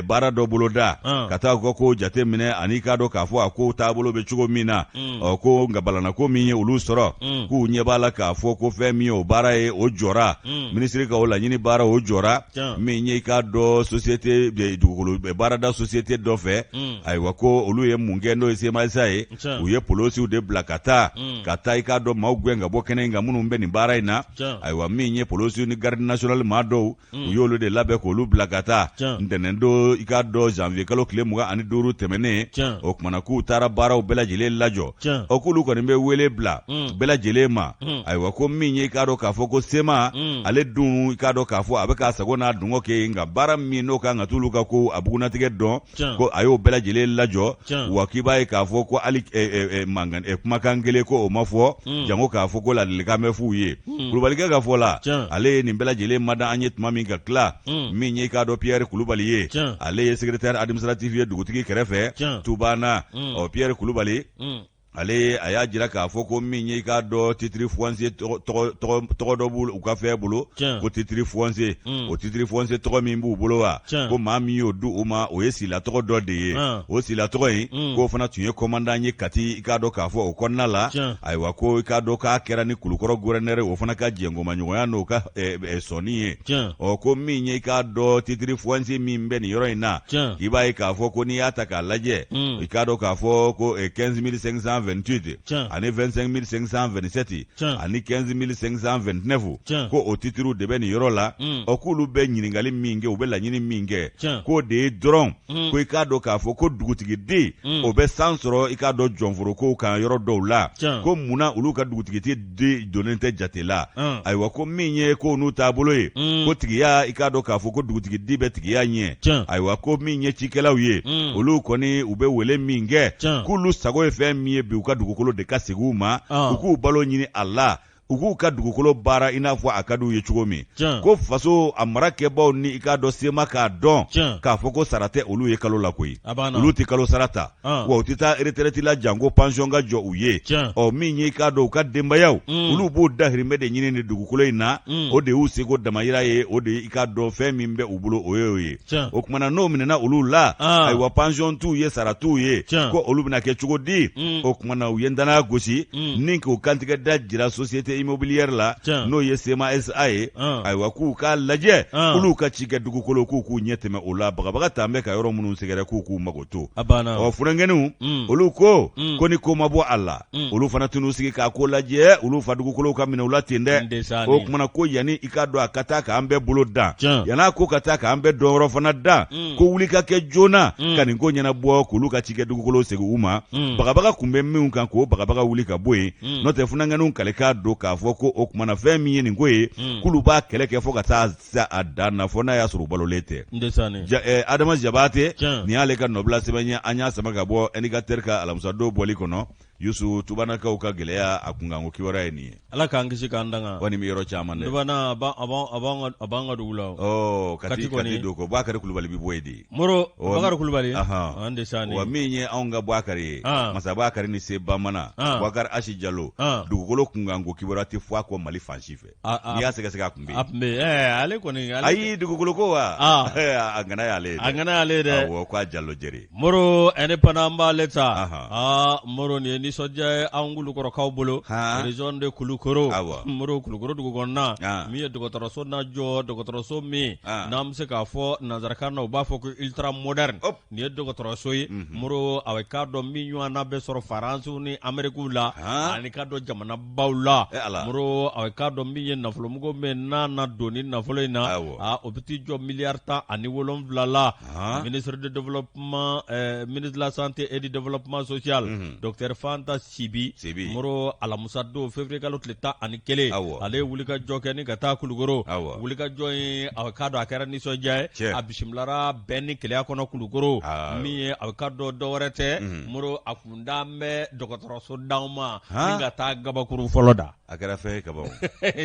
Speaker 1: baara dɔ bolo da ka taa u ka ko jate minɛ ani k'a dɔn k'a fɔ a ko taabolo bɛ cogo min na ɔ ko nka balannako min ye olu sɔrɔ k'u ɲɛ b'a la k'a fɔ ko fɛn min ye o baara ye o jɔra mm. minisiri ka o laɲini baara o jɔra yeah. min ye i k'a dɔn société dugukolo baarada société dɔ fɛ mm. ayiwa ko olu ye mun kɛ n'o ye sema sa ye u ye polosiw de bila ka taa mm. ka taa i k'a dɔn maaw gɛn ka bɔ kɛnɛ in kan minnu bɛ nin baara in na ayiwa min ye polosiw ni garde nationale maa dɔw mm. u y'olu de labɛn k'olu bila ka taa ntɛnɛn don i k'a dɔn janvier kalo tile mugan ani duuru tɛmɛnen o kumana k'u taara baaraw bɛɛ lajɛlen lajɔ Tiɲɛ. o k'olu kɔni bɛ wele bila Mm. bɛɛ lajɛlen ma Mm. ayiwa ko min ye i k'a dɔn k'a fɔ ko sema Mm. ale dun i k'a dɔn k'a fɔ a bɛ k'a sago n'a dungɔ kɛ yen nka baara min n'o kan ka t'olu ka ko a bugunnatigɛ dɔn Tiɲɛ. ko a y'o bɛɛ lajɛlen lajɔ Tiɲɛ. wa k'i b'a ye k'a fɔ ko hali eh, eh, eh, mankan eh, kumakan kelen ko o ma fɔ Mm. jango k'a fɔ ko ladilikan bɛ f'u ye Mm. kulubalikɛ ka fɔ la Tiɲɛ. ale ye nin bɛɛ lajɛlen mada an ye tuma min ka tila Mm. min ye i k'a dɔn pierre kulubali ye Tiɲɛ. ale ye secrétaire administratif ye dugutigi kɛrɛfɛ Tiɲɛ. tubana mm. ɔ pierre kulubali mm. ale a y'a jira k'a fɔ ko min ye i k'a dɔn titiri fuwanse tɔgɔ dɔ b'u u ka fɛn bolo ko titiri fuwanse mm. o titiri fuwanse tɔgɔ min b'u bolo wa ko maa min y'o di u ma o ye sila tɔgɔ dɔ de ye ah. o sila tɔgɔ in mm. k'o fana tun ye kɔmandan ye kati i k'a dɔn k'a fɔ o kɔnɔna la ayiwa ko i k'a dɔn k'a kɛra ni kulukɔrɔ guvɛrɛnɛri o fana ka jɛnkomaɲɔgɔnya n'o ka eh, eh, sɔnni ye tiɲɛ ɔ ko min ye i k'a dɔn titiri fɔnsi min bɛ nin yɔrɔ in na tiɲɛ i b'a ye k'a fɔ ko n'i y'a ta k'a lajɛ Mm. i k'a dɔn k'a fɔ ko eh, 15528 Tiɲɛ. ani 25527 Tiɲɛ. ani 15529 Tiɲɛ. ko o titiriw de bɛ nin yɔrɔ la Mm. ɔ k'olu bɛ ɲininkali min kɛ u bɛ laɲini min kɛ Tiɲɛ. k'o de ye dɔrɔn Mm. ko i k'a dɔn k'a fɔ ko dugutigi di Mm. o bɛ san sɔrɔ i k'a dɔn jɔnforokow kan yɔrɔ dɔw la Tiɲɛ. ko munna olu ka dugutigi di di donnen tɛ jate la Ɔn. ayiwa ko min ye kow n'u taabolo ye Mm. ko tigiya i k'a dɔn k'a fɔ ko dugutigi di bɛ tigiya ɲɛ Tiɲɛ. ayiwa ko min ye cikɛlaw ye Mm. olu kɔni u bɛ wele min kɛ Tiɲɛ. k'olu sago ye fɛn min ye bi u ka dugukolo de ka segin u ma Ɔn. u k'u balo ɲini a la u k'u ka dugukolo baara i n'a fɔ a ka di u ye cogo min Tiɲɛ. ko faso a mara kɛbaaw ni i k'a dɔn sema k'a dɔn Tiɲɛ. k'a fɔ ko sara tɛ olu ye kalo la koyi A banna. olu tɛ kalo sara ta Ɔn. wa u tɛ taa retraite la janko pension ka jɔ u ye Tiɲɛ. ɔ min ye i k'a dɔn u ka denbayaw Mm. olu b'o dahirimɛ de ɲini nin dugukolo in na Mm. o de y'u seko damayira ye o de i k'a dɔn fɛn min bɛ u bolo o y'o ye Tiɲɛ. o kumana n'o minɛna olu la Ah. ayiwa pension t'u ye sara t'u ye Tiɲɛ. ko olu bɛna kɛ cogo di Mm. o kumana u ye danaya gosi Mm. ni k'u kantigɛ da jira société immobilière la Tiɲɛ. n'o ye SEMA SA ye Ah. ayiwa k'u k'a lajɛ Ah. olu ka cikɛ dugukolo k'u k'u ɲɛ tɛmɛ o la bagabaga t'an bɛ ka yɔrɔ minnu sɛgɛrɛ k'u k'u mago to a banna ɔ funankɛninw Mm. olu ko Mm. ko ni ko ma bɔ a la Mm. olu fana tɛn'u sigi k'a ko lajɛ olu fa dugukolow ka minɛ u la ten dɛ Ndesaani. o kumana ko yanni i k'a dɔn a ka taa k'an bɛɛ bolo dan Tiɲɛ. yan'a ko ka taa k'an bɛɛ dɔn yɔrɔ fana dan Mm. ko wuli ka kɛ joona Mm. ka nin ko ɲɛnabɔ k'olu ka cikɛ dugukolow segin u ma Mm. bagabaga kun bɛ minnu kan k'o bagabaga wuli ka bɔ yen Mm. n'o tɛ funankɛninw kalen k'a dɔn k'a fɔ ko o kumana fɛn min ye nin ko ye Mm. k'olu b'a kɛlɛ kɛ fo ka taa se a dan na fo n'a y'a sɔrɔ u balolen tɛ. Ndesaani. Ja, eh, Adama Jabate. Tiɲɛ. Nin y'ale ka nɔbila sɛbɛn ye an y'a sama ka bɔ indicateur ka alamisadon bɔli kɔnɔ. Yusu tubanakaw ka gɛlɛya a kunkanko kibaruya ye nin ye. Ala k'an kisi k'an tanga.
Speaker 2: Ko nin bɛ yɔrɔ caman dɛ.
Speaker 1: Tubana a b'an a b'an
Speaker 2: a b'an ka a b'an ka dugu la o. Ɔɔ Kati Kati kɔni.
Speaker 1: Kati don ko Bakari Kulubali bɛ bɔ yen de. Moro Ɔ, Bakari
Speaker 2: Kulubali. Ahan. Ndesaani. Wa min ye anw ka
Speaker 1: Bakari ye. An. Masa Bakari ni se bamana. An. Bakari Asi Jalo. An. Dugukolo kunkanko kibaruya tɛ fɔ a kɔ Mali fan si fɛ. n'i y'a sɛgɛsɛgɛ a tun bɛ yen, a tun bɛ yen, ale kɔni,
Speaker 2: ale... ayi dugukolo ko
Speaker 1: wa, a ŋana y'ale ye dɛ, a ŋana y'ale ye dɛ, awɔ k'a Jalo Jɛri, Moro indépendant
Speaker 2: an b'ale ta, anhan, aa Moro nin ye nisɔndiya ye an Kulukorokaw bolo, han, région de Kulukoro, awɔ, Moro Kulukoro dugu kɔnɔna, an, min ye dɔgɔtɔrɔso na jɔ, dɔgɔtɔrɔso min, an, n'an bɛ se k'a fɔ nanzarakan na u b'a fɔ ko ultra moderne, hop, nin ye dɔgɔtɔrɔso ye, unhun, Moro a bɛ k'a dɔn min ɲɔgɔnna bɛ sɔrɔ France ni Amérique la, han, ani k'a dɔn jamana baw la eh, a k'a dɔn min ye nafolomugu min n'a na don ni nafolo in na o bɛ t'i jɔ miliyari tan ani wolonwula la ministre de développement eh, ministre de la santé et du développement social mhm. docteur Fanta Sibi moro alamusa don février kalo tile tan ani kelen ale ye wulikajɔ kɛ ni ka taa Kulukoro wulikajɔ in a k'a dɔn a kɛra nisɔndiya ye a bisimilara bɛn ni kelenya kɔnɔ Kulukoro min ye a k'a dɔn dɔwɛrɛ tɛ mhm. moro a kun da bɛ dɔgɔtɔrɔso d'an ma ka taa kabakurun fɔlɔ da a kɛra fɛn ye
Speaker 1: kaban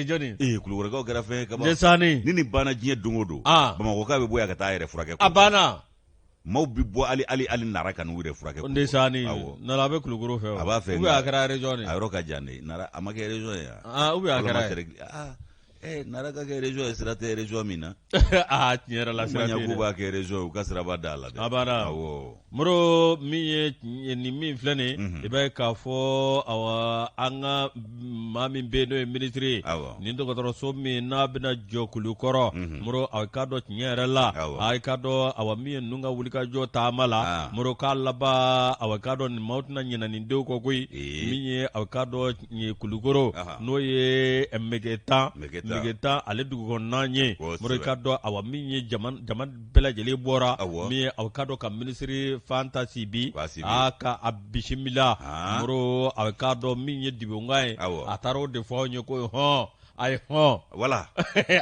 Speaker 1: jɔnni ee
Speaker 2: Kulukorokaw kɛra fɛn
Speaker 1: ye kaban sanni ni nin banna
Speaker 2: diɲɛ don
Speaker 1: o don Bamakɔkaw bɛ bɔ yan ka taa yɛrɛ furakɛ a
Speaker 2: banna maaw
Speaker 1: bɛ bɔ ali ali ali Nara ka n'u yɛrɛ furakɛ n
Speaker 2: sanni a bɛ kulukoro fɛ a b'a fɛ a kɛra
Speaker 1: région a yɔrɔ
Speaker 2: ka jan
Speaker 1: a ma kɛ région ye a kɛra
Speaker 2: Eh, nara
Speaker 1: ka kɛ région ye sira tɛ région min na ah tiɲɛ yɛrɛ
Speaker 2: la sira tɛ yen dɛ. k'u b'a kɛ région ye u
Speaker 1: ka siraba da a la dɛ A banna.
Speaker 2: awɔ moro min ye tiɲɛ- nin min filɛ nin Mhm. ye i b'a ye k'a fɔ awa an ka maa min bɛ yen n'o ye minisiri ye Awɔ. nin dɔgɔtɔrɔso min n'a bɛna jɔ Kulukoro Mhm. moro a k'a dɔn tiɲɛ yɛrɛ la Awɔ. a k'a dɔn awa min ye ninnu ka wulikajɔ taama la Ah. moro k'a laban awa k'a dɔn nin maaw tɛna ɲinɛ nin denw kɔ koyi Ee. min ye aw k'a dɔn ye kulukoro n'o ye Megetan Megetan ale dugu kɔnɔna ye Moro k'a dɔn awa min ye jama bɛɛ lajɛlen bɔra min aw k'a dɔn ka minisiri Fanta Sibi a ka a bisimila Moro a k'a dɔn min ye dibonkan ye a taara o de fɔ anw ye ko hɔn a ye hɔn
Speaker 1: wala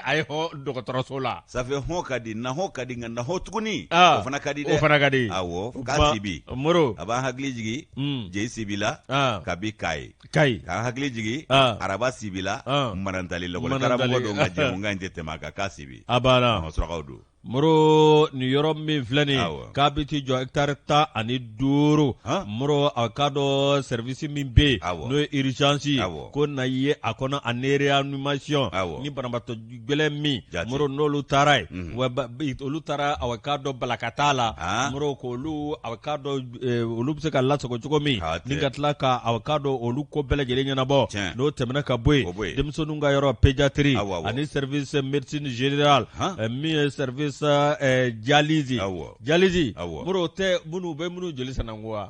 Speaker 1: a ye
Speaker 2: hɔn dɔgɔtɔrɔso la ça fait hɔn ka
Speaker 1: di na hɔn ka di nka na hɔn tuguni o fana ka di dɛ o fana ka di awɔ
Speaker 2: k'a sibi
Speaker 1: moro a b'an hakili
Speaker 2: jigin
Speaker 1: hmm. Jeyi Sibi la kabi Kayi Kayi k'an hakili jigin araba sibi la manantali lakɔlikaramɔgɔ don nka jɛmukan in tɛ tɛmɛ a kan k'a sibi a banna surakaw
Speaker 2: don
Speaker 1: Moro
Speaker 2: nin yɔrɔ min filɛ nin k'a bɛ t'i jɔ hectare tan ani duuru Moro a k'a dɔn service min bɛ yen n'o ye urgence ko na ye a kɔnɔ ani réanimation ni banabaatɔ gɛlɛn min Moro n'olu taara yen wa olu taara a k'a dɔn balakata la Moro ko olu a k'a dɔn olu bɛ se ka lasago cogo min ni ka tila k'a k'a dɔn olu ko bɛɛ lajɛlen ɲɛnabɔ n'o tɛmɛna ka bɔ yen denmisɛnninw ka yɔrɔ pédiatrie ani service médecine générale min ye service dialyse dialyse Moro tɛ minnu bɛ minnu joli sananko wa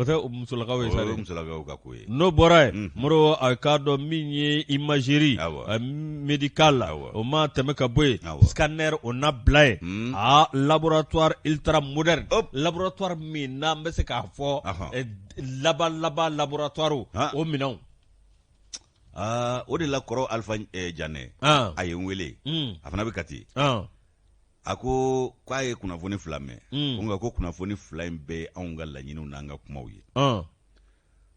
Speaker 2: O tɛ musolakaw ye sa dɛ, o ye musolakaw ka ko ye,
Speaker 1: n'o bɔra yen, unhun, Moro
Speaker 2: a k'a dɔn min ye imagerie awɔ, médicale la, awɔ, o ma tɛmɛ ka bɔ yen, awɔ, scanner o na bila yen, un, aa laboratoire ultra moderne, hop, laboratoire min n'an bɛ se k'a fɔ, ɔhɔ, laban laban laboratoire han, o
Speaker 1: minɛnw aa o de la kɔrɔ Alifa Janɛ, an, a ye n wele, un, a fana bɛ Kati, an a ko k'a ye kunnafoni fila mɛn mm. ko nka ko kunnafoni fila in bɛɛ anw ka laɲiniw n'an ka kumaw ye uh.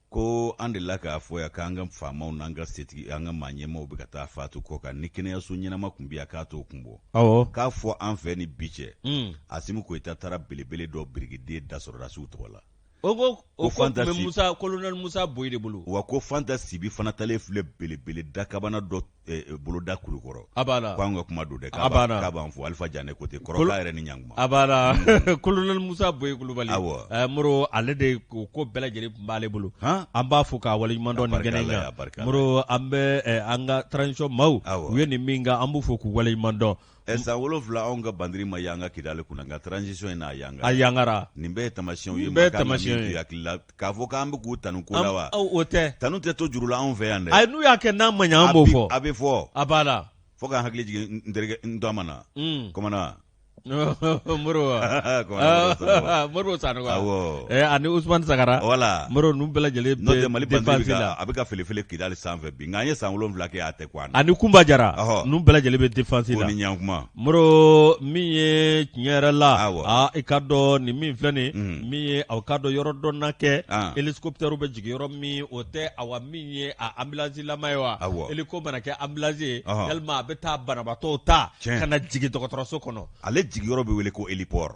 Speaker 1: ko an delila k'a fɔ yan k'an ka faamaw n'an ka setigi an ka maa ɲɛmaw bɛ ka taa faatu kɔ kan ni kɛnɛyaso ɲɛnama tun bɛ yan k'a t'o kun bɔ k'a fɔ an fɛ ni bi cɛ mm. Asimi Goyita taara belebele dɔ birikiden da sɔrɔdasiw tɔgɔ la o ko
Speaker 2: o ko tun bɛ musa kolonɛli musa boyi de bolo wa ko fanta
Speaker 1: sibi fana taalen filɛ belebele dakabana dɔ eh, eh, boloda Kulukɔrɔ a b'a la k'an ka kuma
Speaker 2: don dɛ
Speaker 1: k'a b'a la. b'a- k'a b'an fo alifa Janɛ ko ten kɔrɔla yɛrɛ ni ɲanguma a b'a la
Speaker 2: kolonɛli musa boyi kulubali Awɔ. Eh, moro ale de o ko bɛɛ lajɛlen tun b'ale bolo Han? an b'a fo k'a waleɲuman dɔn nin barika kɛnɛ in Ala ye, a kan barika Ala moro an bɛ eh, an ka transition maaw Awɔ. u ye nin min kɛ an b'u fo k'u waleɲuman dɔn Ɛ san wolonwula
Speaker 1: anw ka bandiri ma yanga Kidali kunna nka transition in n'a yan a yangara
Speaker 2: nin bɛɛ ye
Speaker 1: tamasiyɛnw ye bɛɛ tamasi hakili la k'a fɔ k'an bɛ k'u tanu ko wa o tɛ tanu tɛ
Speaker 2: to juru la anw
Speaker 1: fɛ yan dɛ ayi n'u y'a kɛ n'a ma ɲɛ
Speaker 2: an b'o fɔ a bɛ fɔ a b'a la fo k'an hakili
Speaker 1: jigin n terikɛ n dɔ mana
Speaker 2: na Moro Sanogo ani usman sagara wala Moro nu bɛɛ
Speaker 1: lajɛlen
Speaker 2: Mali bandiri a
Speaker 1: bɛ ka felefele Kidali sanfɛ bi nka an ye san wolonwula kɛ a tɛ ani kunba
Speaker 2: jara nu bɛɛ lajɛlen bɛ défense la ɲanguma
Speaker 1: Moro
Speaker 2: min ye tiɲɛ yɛrɛ la i k'a dɔn nin min filɛ nin mm. min ye aw k'a dɔn yɔrɔ dɔ na kɛ hélicoptère bɛ jigin yɔrɔ min o tɛ awa min ye ambulance lama ye wa hélico mana kɛ ambulance ye walima a bɛ taa banabaatɔw ta ka na jigin dɔgɔtɔrɔso kɔnɔ ale jigin yɔrɔ bɛ wele ko
Speaker 1: héliport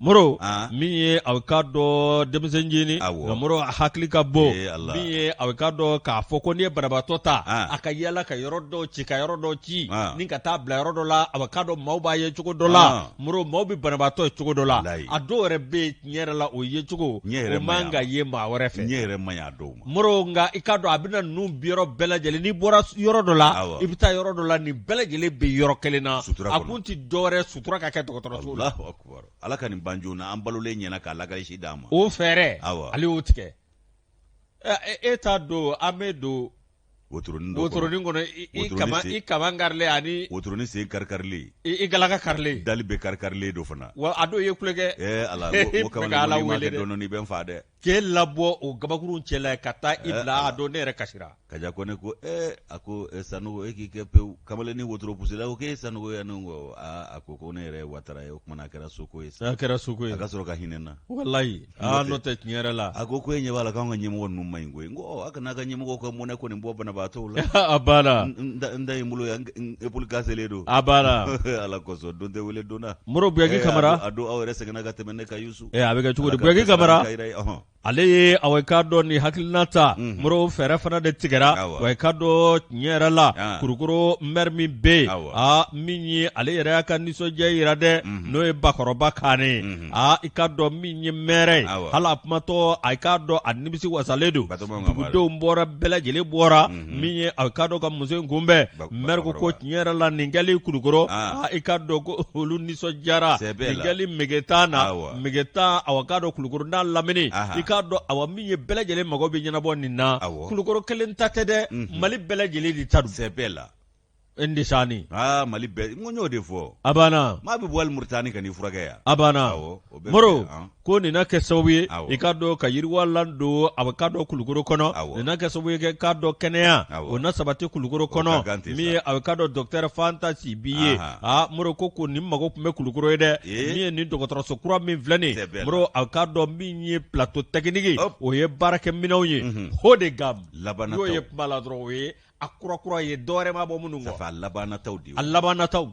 Speaker 2: Moro min ye a k'a dɔn denmisɛnnin Moro hakili ka bɔ min ye a k'a dɔn k'a fɔ ko n'i ye banabaatɔ ta a ka yaala ka yɔrɔ dɔ ci ka yɔrɔ dɔ ci ni ka taa bila yɔrɔ dɔ la a k'a dɔn maaw b'a ye cogo dɔ la Moro maaw bɛ banabaatɔ ye cogo dɔ la a dɔw yɛrɛ bɛ tiɲɛ yɛrɛ la o yecogo yɛrɛ man ka ye maa wɛrɛ fɛ yɛrɛ
Speaker 1: ma Moro nka i k'a dɔn
Speaker 2: a bɛna ninnu bi yɔrɔ bɛɛ lajɛlen n'i bɔra yɔrɔ dɔ la i bɛ taa yɔrɔ dɔ la nin bɛɛ lajɛlen bɛ yɔrɔ kelen na a kun tɛ dɔwɛrɛ sutura ka kɛ dɔgɔtɔrɔso la ala ka
Speaker 1: nin ban joona an balolen ɲɛna k'a lakalisi d'an ma o fɛɛrɛ
Speaker 2: ale y'o tigɛ e, e t'a dɔn an bɛ don wotoronin kɔnɔ i kaman karilen ani wotoronin sen
Speaker 1: karikarilen i galaka
Speaker 2: karilen dali bɛɛ karikarilen don
Speaker 1: fana wa a don i ye kule
Speaker 2: kɛ ee ala ko
Speaker 1: kama ala wele dɔɔnin i bɛ n fa dɛ k'e labɔ
Speaker 2: o gabakurunw cɛ la ka taa i bila a dɔn ne yɛrɛ kasira kaja ko ne ko
Speaker 1: ee a ko sanogo e k'i kɛ pewu kamalen ni wotoro pusila ko k'e sanogo yan ne ko aa a ko ko ne yɛrɛ watara ye o kumana a kɛra soko ye sa a kɛra soko ye a ka sɔrɔ
Speaker 2: ka hinɛ na
Speaker 1: walayi aa
Speaker 2: n'o tɛ tiɲɛ yɛrɛ la a ko ko e ɲɛ b'a la k'an
Speaker 1: ka ɲɛmɔgɔ ninnu ma ɲi koyi n ko a kana ka ɲɛmɔgɔ ka mɔnɛ kɔni bɔ banabaatɔw la a banna
Speaker 2: n da ye n bolo
Speaker 1: yan épaule cassélen don a banna ala
Speaker 2: kosɔn don
Speaker 1: tɛ wele donna moro buyaki kamara
Speaker 2: a don aw yɛrɛ sɛgɛnna ka
Speaker 1: tɛmɛ ne ka yusu Ee a bɛ kɛ cogo di Buyaki
Speaker 2: Kamara Ala ka hɛrɛ kɛ i ye ɔhɔɔ ale ye awɔ i k'a dɔn nin hakilina ta unhun Moro fɛɛrɛ fana de tigɛra awɔ wa i k'a dɔn tiɲɛ yɛrɛ la an Kulukoro maire min bɛ yen awɔ aa min ye ale yɛrɛ y'a ka nisɔndiya yira dɛ unhun n'o ye Bakɔrɔba Kane ye unhun aa i k'a dɔn min ye maire ye awɔ hal'a kumatɔ a i k'a dɔn a nimisi wasalen don Batɔgɔma Ŋanbari dugudenw bɔra bɛɛ lajɛlen bɔra unhun Mm. min ye a k'a dɔn ka muso in kunbɛn mɛri ko ko tiɲɛ yɛrɛ la nin kɛli kulukɔrɔ ah. ah, i k'a dɔn ko olu nisɔndiyara nin kɛli megetan na megetan awa k'a dɔn kulukɔrɔ n'a lamini i k'a dɔn awa min ye bɛɛ lajɛlen mago bɛ ɲɛnabɔ nin na kulukɔrɔ kelen ta tɛ dɛ mm-hmm. mali bɛɛ lajɛlen de ta don
Speaker 1: E ni sa
Speaker 2: aa mali
Speaker 1: bɛɛ n y'o de fɔ a banna maa bɛ
Speaker 2: bɔ hali moritani
Speaker 1: ka n'i furakɛ yan a
Speaker 2: banna moro ko nin na kɛ sababu ye i k'a dɔn ka yiriwalan don a i k'a dɔn kulukoro kɔnɔ nin na kɛ sababu ye k'a dɔn kɛnɛya o na sabati kulukoro kɔnɔ min ye a i k'a dɔn docteur fanta sibi ye aa moro ko ko nin mago tun bɛ kulukoro ye dɛ min ye nin dɔgɔtɔrɔso kura min filɛ nin moro a k'a dɔn min ye plateau technique o ye baarakɛminɛnw ye haut de gamme n'o ye bala dɔrɔn ye a kura kura ye dɔwɛrɛ ma bɔ minnu kɔ a laban nataw de
Speaker 1: a laban
Speaker 2: nataw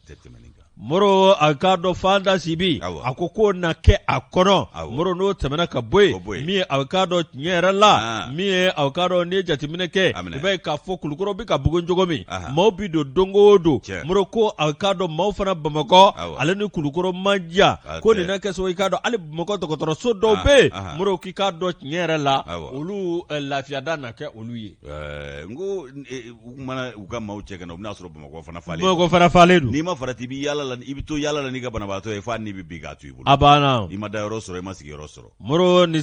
Speaker 2: tɛ tɛmɛ
Speaker 1: nin kan moro a
Speaker 2: k'a dɔn fanta sibi a ko k'o na kɛ a kɔnɔ moro n'o tɛmɛna ka bɔ yen min ye a k'a dɔn tiɲɛ yɛrɛ la min ye a k'a dɔn n'i ye jateminɛ kɛ i b'a ye k'a fɔ kulukɔrɔ bɛ ka bugun cogo min maaw bɛ don don o don moro ko a k'a dɔn maaw fana bamakɔ ale ni kulukɔrɔ man jan ko nin na kɛ sababu ye i k'a dɔn hali bamakɔ dɔgɔtɔrɔso dɔw bɛ yen moro k'i k'a dɔn tiɲɛ yɛrɛ la olu lafiyada na kɛ olu ye Ɛɛ n
Speaker 1: ko u
Speaker 2: mana
Speaker 1: u ka maaw cɛ ka na u bɛna'a sɔrɔ bamakɔ fana falen bamakɔ
Speaker 2: fana
Speaker 1: falen don n'i ma farati i bɛ yaala la i bɛ to yaala la n'i ka banabaatɔ ye fo' ni bɛ bin ka to i bolo a banna i ma da yɔrɔ
Speaker 2: sɔrɔ i ma
Speaker 1: sigi yɔrɔ sɔrɔ moro
Speaker 2: nin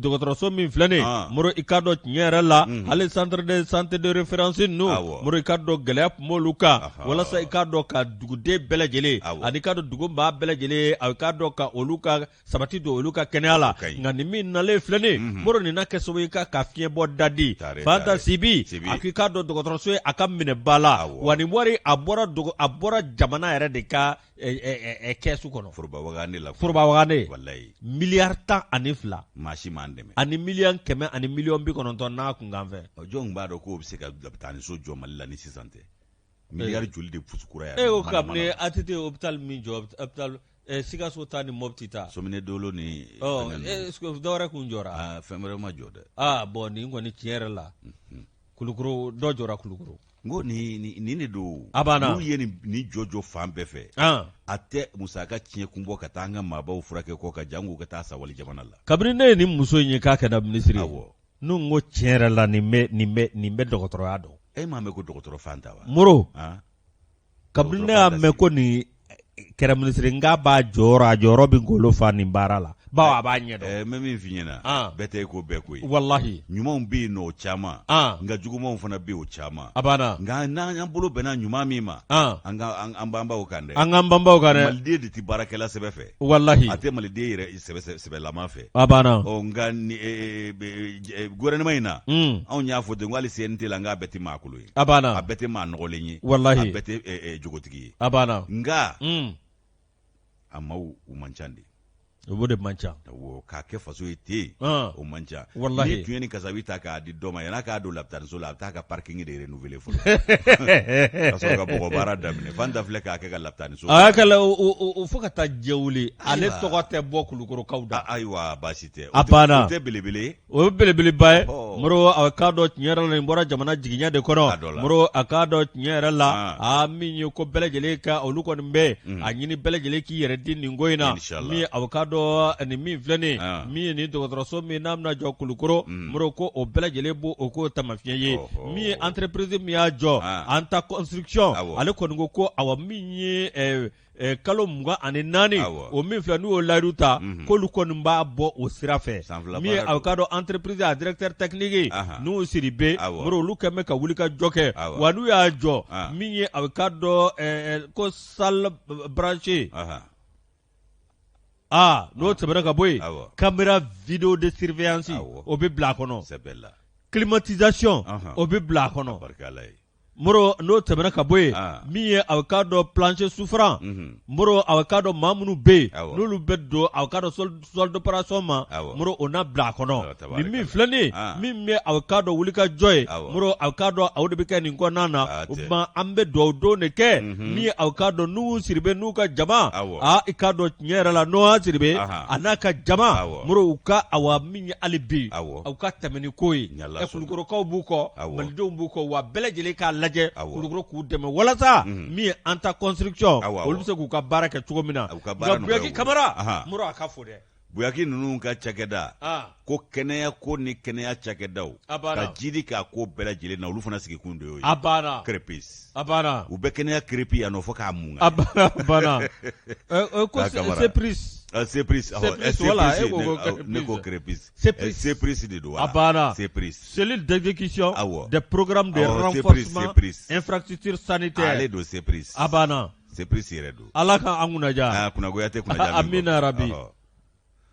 Speaker 2: dɔgɔtɔrɔso min filɛ nin moro i k'a dɔn tiɲɛ yɛrɛ la hali centre de santé de référence ninnu moro i k'a dɔn gɛlɛya tun b'olu kan walasa i k'a dɔn ka duguden bɛɛ lajɛlen ani i k'a dɔn dugumaa bɛɛ lajɛlen a k'a dɔn ka olu ka sabati don olu ka kɛnɛya la nka nin min nalen filɛ nin mhm. moro nin na kɛ sababu ye ka ka fiɲɛ bɔ dadi fanta sibi a k'i k'a dɔn dɔgɔtɔrɔso ye a ka minɛ ba la wa nin wari a bɔra a bɔra jamana yɛrɛ de ka kɛsu kɔnɔ forobawagande la forobawagande miliyari tan ani fila maa si m'an
Speaker 1: dɛmɛ ani miliyɔn kɛmɛ
Speaker 2: ani miliyɔn bi kɔnɔntɔn n'a kunkanfɛn jɔn b'a dɔn k'o bɛ se ka
Speaker 1: lapitaniso jɔ mali la ni sisan tɛ miliyari eh. joli de pusukura yan. e ko
Speaker 2: kabini ATT hopital min jɔ hopital eh, sikaso ta ni mɔpti ta. somine dolo ni.
Speaker 1: ɔ eh,
Speaker 2: dɔwɛrɛ kun jɔra. aa ah, fɛn wɛrɛ ma jɔ dɛ.
Speaker 1: aa ah, bɔn nin kɔni tiɲɛ
Speaker 2: yɛrɛ la. Mhm. kulukoro dɔ jɔra kulukoro. n ko
Speaker 1: nin nin de don. a banna n'u ye
Speaker 2: nin
Speaker 1: jɔjɔ fan bɛɛ fɛ. Ah. a tɛ musaka tiɲɛ kun bɔ ka taa an ka maabaw furakɛ kɔkan janko ka taa sawali jamana la. kabini ne ye nin muso in
Speaker 2: ye k'a kɛra minisiri ye. N'u ko tiɲɛ yɛrɛ la nin bɛ nin bɛ nin bɛ dɔgɔtɔrɔya dɔn e m'a mɛn ko
Speaker 1: dɔgɔtɔrɔ Fanta wa
Speaker 2: Moro kabini ne y'a mɛn ko nin kɛra minisiri n k'a b'a jɔyɔrɔ a jɔyɔrɔ bɛ golo fa nin baara la bawo a b'a ɲɛ dɔn mɛ min f'i ɲɛna
Speaker 1: bɛɛ tɛ e ko bɛɛ ko walahi ɲumanw
Speaker 2: bɛ yen
Speaker 1: o caman nka jugumanw fana bɛ yen o caman a banna
Speaker 2: nka n'an'an
Speaker 1: bolo bɛnna ɲuman min ma an banba o kan dɛ an k'an banba o kan
Speaker 2: maliden de tɛ baarakɛla
Speaker 1: sɛbɛ fɛ walahi a tɛ maliden
Speaker 2: yɛrɛ
Speaker 1: sɛbɛ sɛbɛlama fɛ a banna ɔ
Speaker 2: nka ni-
Speaker 1: ee, be- e, gouvernement in na Mm. anw y'a fɔ ten ko hali CNT la nka a bɛɛ tɛ maa kolon ye a banna a bɛɛ tɛ maa
Speaker 2: nɔgɔlen ye
Speaker 1: Walahi. a bɛɛ tɛ e, e,
Speaker 2: jogotigi
Speaker 1: ye a banna nka Mm. a maaw u man ca de o de man
Speaker 2: ca Awɔ, k'a kɛ faso
Speaker 1: ye ten Ah. o man ca Walahi. n'i tun ye nin kasabi
Speaker 2: ta
Speaker 1: k'a di dɔ ma yan'a k'a don lapitaniso la a bɛ taa a ka parking de renouveler
Speaker 2: fo ka taa jɛ wuli ale tɔgɔ tɛ bɔ kulukorokaw da ayiwa baasi tɛ
Speaker 1: a belebele o ye belebeleba
Speaker 2: ye Moro a k'a dɔn tiɲɛ yɛrɛ la nin bɔra jamana jigiɲɛ de kɔnɔ Moro a k'a dɔn tiɲɛ yɛrɛ la a min ye ko bɛɛ lajɛlen ka olu kɔni bɛ a ɲini bɛɛ lajɛlen k'i yɛrɛ di nin ko in na min ye a k'a dɔn nin min filɛ nin min ye nin dɔgɔtɔrɔso min n'a bɛna jɔ kulukoro Moro ko o bɛɛ lajɛlen b'o o k'o tamasiɲɛ ye min ye entreprise min y'a jɔ Anta construction ale kɔni ko ko awa min ye kalo mugan ani naani o min filɛ n'u y'o layidu ta k'olu kɔni b'a bɔ o sira fɛ min ye a k'a dɔn entreprise a directeur technique n'u siribe Moro olu kɛlen bɛ ka wuli ka jɔ kɛ wa n'u y'a jɔ min ye a k'a dɔn ko salle branchée Aa n'o tɛmɛna ka bɔ yen, awɔ, camera video de surveillance awɔ, o bɛ bila a kɔnɔ, c'est belle la, climatisation anhan, o bɛ bila a kɔnɔ, barika Ala ye, Moro n'o tɛmɛna ka bɔ yen, an, min ye a k'a dɔn plancher souffrant, unhun, Moro a k'a dɔn maa minnu bɛ yen, awɔ, n'olu bɛ don a k'a dɔn sol sol d'operation ma, awɔ, Moro o na bila a kɔnɔ Tabaarikala. Nin min filɛ nin ye, An. min bɛ a k'a dɔn wuli ka jɔ ye, Awɔ. Moro a k'a dɔn aw de bɛ kɛ nin kɔnɔna na, Hatɛ. o tuma an bɛ dugawu don de kɛ, Mhm. min ye aw k'a dɔn n'u siribe n'u ka jama, Awɔ. aa i k'a dɔn tiɲɛ yɛrɛ la n'o y'a siribe Aha. a n'a ka jama, Awɔ. Moro u ka awa min ye hali bi, Awɔ. aw ka tɛmɛ ni ko ye, Ni Ala sɔnna. kulukorokaw b'u kɔ, Awɔ. malidenw b'u kɔ, wa bɛɛ lajɛlen k'a lajɛ Awɔ. kulukoro k'u dɛmɛ walasa Mhm. min ye Anta construction Awɔ, awɔ. olu bɛ se k'u ka baara kɛ cogo min na, Ala ka baara nka Buyaki nɔgɔya u bolo. Kamara, Aha. Moro a k'a fo dɛ. buyaki ninnu
Speaker 1: ka cakɛda ko kɛnɛya ko ni kɛnɛya cakɛdaw ka jiidi k'a ko bɛɛ lajɛlen na olu fana sigikun de y'o ye crépis u bɛ
Speaker 2: kɛnɛya crépi
Speaker 1: yan nɔ fo k'a mun ne ko crépis CEPRIS de don
Speaker 2: CEPRIS cellule d'exécution des programmes de renforcement infrastructure sanitaire ale don
Speaker 1: CEPRIS a
Speaker 2: CEPRIS yɛrɛ
Speaker 1: don. Ala ka an kunnaja.
Speaker 2: Aa kunnagoya tɛ kunnaja.
Speaker 1: Amina
Speaker 2: yarabi.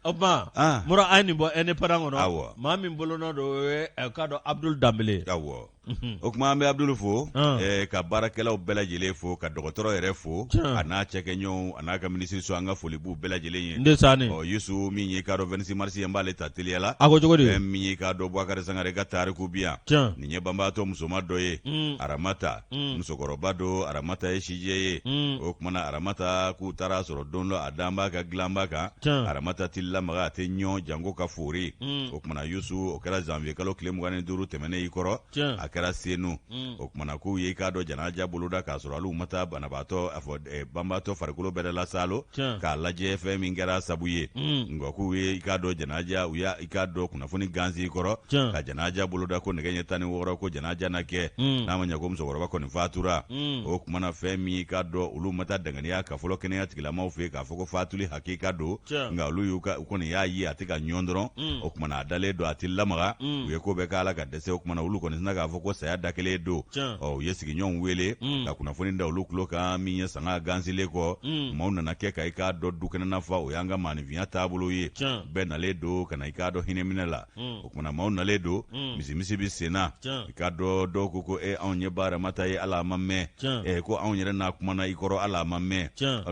Speaker 2: O tuma. An. Mura an ye nin bɔ Indépendant kɔnɔ. Awɔ. Maa min bolonɔ don o ye ɛ k'a dɔn Abudulu Danbele. Awɔ. Unhun. O kuma
Speaker 1: an bɛ Abudulu fo. An. Ɛɛ ka baarakɛlaw bɛɛ lajɛlen fo ka dɔgɔtɔrɔ yɛrɛ fo. Tiɲɛ. A n'a cɛkɛɲɔɔnw a n'a ka minisiriso an ka foli b'u bɛɛ lajɛlen ye. Ndesaani. Ɔ
Speaker 2: Yusu min ye i
Speaker 1: k'a dɔn 26 mars ye an b'ale ta teliya la. A ko cogo di? Fɛn min ye i k'a
Speaker 2: dɔn Bubakari
Speaker 1: Sangare ka tariku bi yan. Tiɲɛ. Nin ye banbaatɔ musoman dɔ ye. Un. Aramata. Mm. musokɔrɔba don aramata ye sijɛ ye mm. o kumana aramata k'u taara sɔrɔ don dɔ a dalen b'a ka dilanba kan aramata tɛ lamaga a tɛ ɲɔn janko ka foori mm. o kumana yusu o kɛra zanviye kalo tile mugan ni duuru tɛmɛnen i kɔrɔ a kɛra senu o kumana k'u ye i k'a dɔn janaja boloda k'a sɔrɔ hali u ma taa banabaatɔ a fɔ eh, banbaatɔ farikolo bɛɛ lasalo k'a lajɛ fɛn min kɛra sabu ye nka k'u ye i k'a dɔn janaja u y'a i k'a dɔn kunnafoni gansi kɔrɔ Tiɲɛ. ka janaja boloda ko nɛgɛ ɲɛ tan ni wɔɔrɔ ko janaja na kɛ Mm. n'a ma ɲɛ ko musokɔrɔba kɔni fatura Mm. o kumana fɛn min y'i k'a dɔn olu ma taa danganiya ka fɔlɔ kɛnɛya tigilamaw fɛ yen k'a fɔ ko fatuli hakika don Tiɲɛ. nka olu y'u ka u kɔni y'a ye a tɛ ka ɲɔn dɔrɔn Mm. o kumana a dalen don a tɛ lamaga Mm. u ye ko bɛɛ k'a la ka dɛsɛ o kumana olu kɔni sina k'a fɔ ko saya de kɛlen don Tiɲɛ. ɔ u ye sigiɲɔgɔnw wele Mm. ka kunnafoni da olu tulo kan min ye sanga gansilen kɔ Mm. maaw nana kɛ ka i k'a dɔn dukɛnɛna fa o y'an ka maanifinya taabolo ye Tiɲɛ. bɛɛ nalen don ka na i k'a dɔn hinɛminɛ la mm. o kumana maaw nalen don mm. misimisi bɛ sen na i k'a dɔn dɔw ko ko e anw ye ba ramata ye hali a ma mɛn e ko anw yɛrɛ n'a kumana i kɔrɔ hali a ma mɛn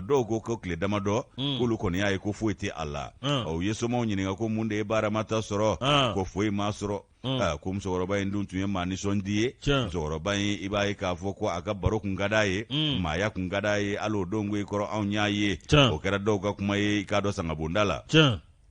Speaker 1: dɔw ko ko tile damadɔ mm. k'olu kɔni y'a ye ko foyi tɛ a la u ye somaw ɲininka ko mun de ye ba ramata sɔrɔ ko foyi m'a sɔrɔ Mm. Ah, ko musokɔrɔba in dun tun ye maa nisɔndi ye musokɔrɔba in i b'a ye k'a fɔ ko a ka baro kun ka d'a ye mm. maaya kun ka d'a ye hali o don ko i kɔrɔ anw y'a ye o kɛra dɔw ka kuma ye i k'a dɔn sangabonda la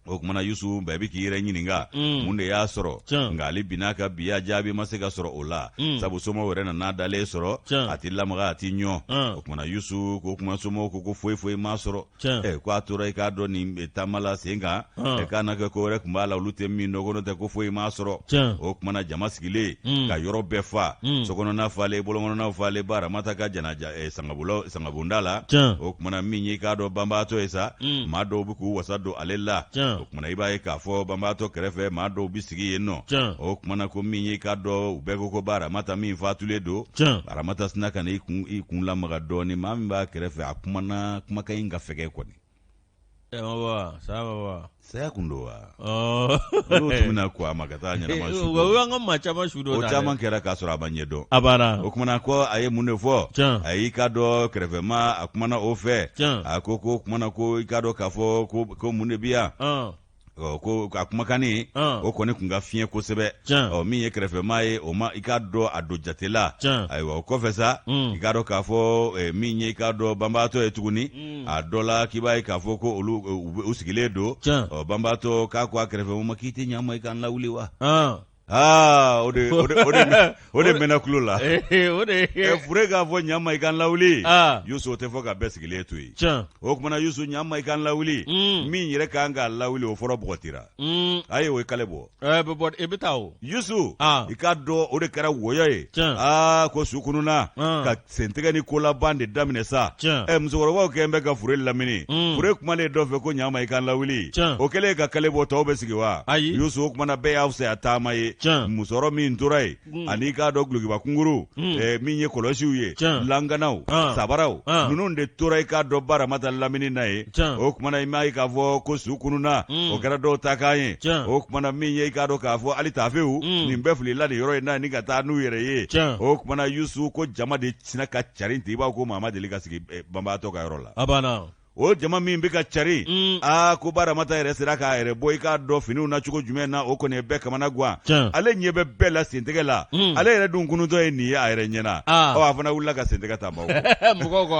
Speaker 1: o kumana yusu bɛɛ bɛ k'i yɛrɛ ɲininka mm. mun de y'a sɔrɔ nka ale binna ka biya jaabi ma se ka sɔrɔ o la mm. sabu somaw yɛrɛ nan'a dalen sɔrɔ a tɛ lamaga a tɛ ɲɔn o kumana yusu ko kuma somaw ko ko foyi foyi m'a sɔrɔ Eh, ko a tora i k'a dɔn nin eh, taama la sen kan ah. eh, k'a na kɛ ko wɛrɛ kun b'a la olu tɛ min dɔn ko n'o tɛ ko foyi m'a sɔrɔ o kumana jama sigilen hmm. ka yɔrɔ bɛɛ fa hmm. sokɔnɔna falen bɔlɔnkɔnɔna falen ba ramata ka janaja sangabonda la o kumana min y'i k'a dɔn banbaatɔ ye sa hmm. maa dɔw bɛ k'u wasa don ale la kumana i b'a ye k'a fɔ banbaatɔ kɛrɛfɛ maa dɔw bi sigi yen nɔ o kumana ko min ye k'a dɔn u bɛɛ ko ko ba aramata min fatulen don aramata sina ka na i kun i kun lamaga dɔɔni maa min b'a kɛrɛfɛ a kumana kumakan in ka fɛgɛ kɔni saya baba saya kun don wa oh. n'o tɛmɛna ko a ma ka taa ɲɛnama su o y'an ka maa caman
Speaker 2: su don o caman kɛra k'a sɔrɔ a
Speaker 1: ma ɲɛdɔn a banna o kumana ko a ye mun de fɔ a y'i k'a dɔn kɛrɛfɛmaa kumana o fɛ a ko ko kumana ko i k'a dɔn k'a fɔ ko ko mun de bi yan ɔ ko a kumakannin o kɔni kun ka fiɲɛ kosɛbɛ ɔ min ye kɛrɛfɛmaa ye o ma i k'a dɔn a don jate la ayiwa o kɔfɛ sa i k'a dɔn k'a fɔ min ye i k'a dɔn banbaatɔ ye tuguni a dɔ la k'i b'a ye k'a fɔ ko olu u sigilen don ɔ banbaatɔ k'a ko a kɛrɛfɛmaa ma k'i tɛ ɲa n ma i ka n lawuli wa Aa o de mɛnna kulo la fure k'a fɔ ɲa n ma i ka n lawuli yusu o tɛ fɔ ka bɛɛ sigilen to yen o kumana yusu ɲa n ma i ka n lawuli min yɛrɛ ka kan k'a lawuli o fɔlɔ bɔgɔtira a ye o ye kale bɔ
Speaker 2: yusu i k'a
Speaker 1: dɔn o de kɛra wɔyɔ ye aa ko su kununna sentɛgɛ ni kolaban de daminɛ sa ɛ musokɔrɔbaw kɛlen bɛ ka fure lamini mm. fure kumalen dɔ fɛ ko ɲa n ma i ka n lawuli o kɛlen ka kale bɔ tɔw bɛ sigi wa ayi yusu o kumana bɛɛ y'a fisaya taama ye musɔrɔ min tora ye mm. ani i k'a dɔn gulokiba kunkurun mm. eh, min ye kɔlɔsiw ye langanaw ah. sabaraw ah. ninnu de tora i k'a dɔ baramata lamini na ye o kumana i m'a ye k'a fɔ ko su kununna mm. o kɛra dɔw ta kan ye o kumana min ye i k'a dɔn k'a fɔ hali taafew mm. nin bɛɛ filila nin yɔrɔ in na ni ka taa n'u yɛrɛ ye o kumana yusu ko jama de sina ka carin ten i b'a ko maa ma deli ka sigi eh, banbaatɔ ka yɔrɔ la o jama min bɛ ka cari mm. aa ko baramata yɛrɛ sera k'a yɛrɛ bɔ i k'a dɔn finiw na cogo jumɛn na o kɔni ye bɛɛ kamana guwan ale ɲɛ bɛ bɛɛ la sentɛgɛ la ale yɛrɛ dun kununtɔ ye nin ye a yɛrɛ ɲɛna ɔ a fana wulila ka sentɛgɛ ta mɔgɔw kɔ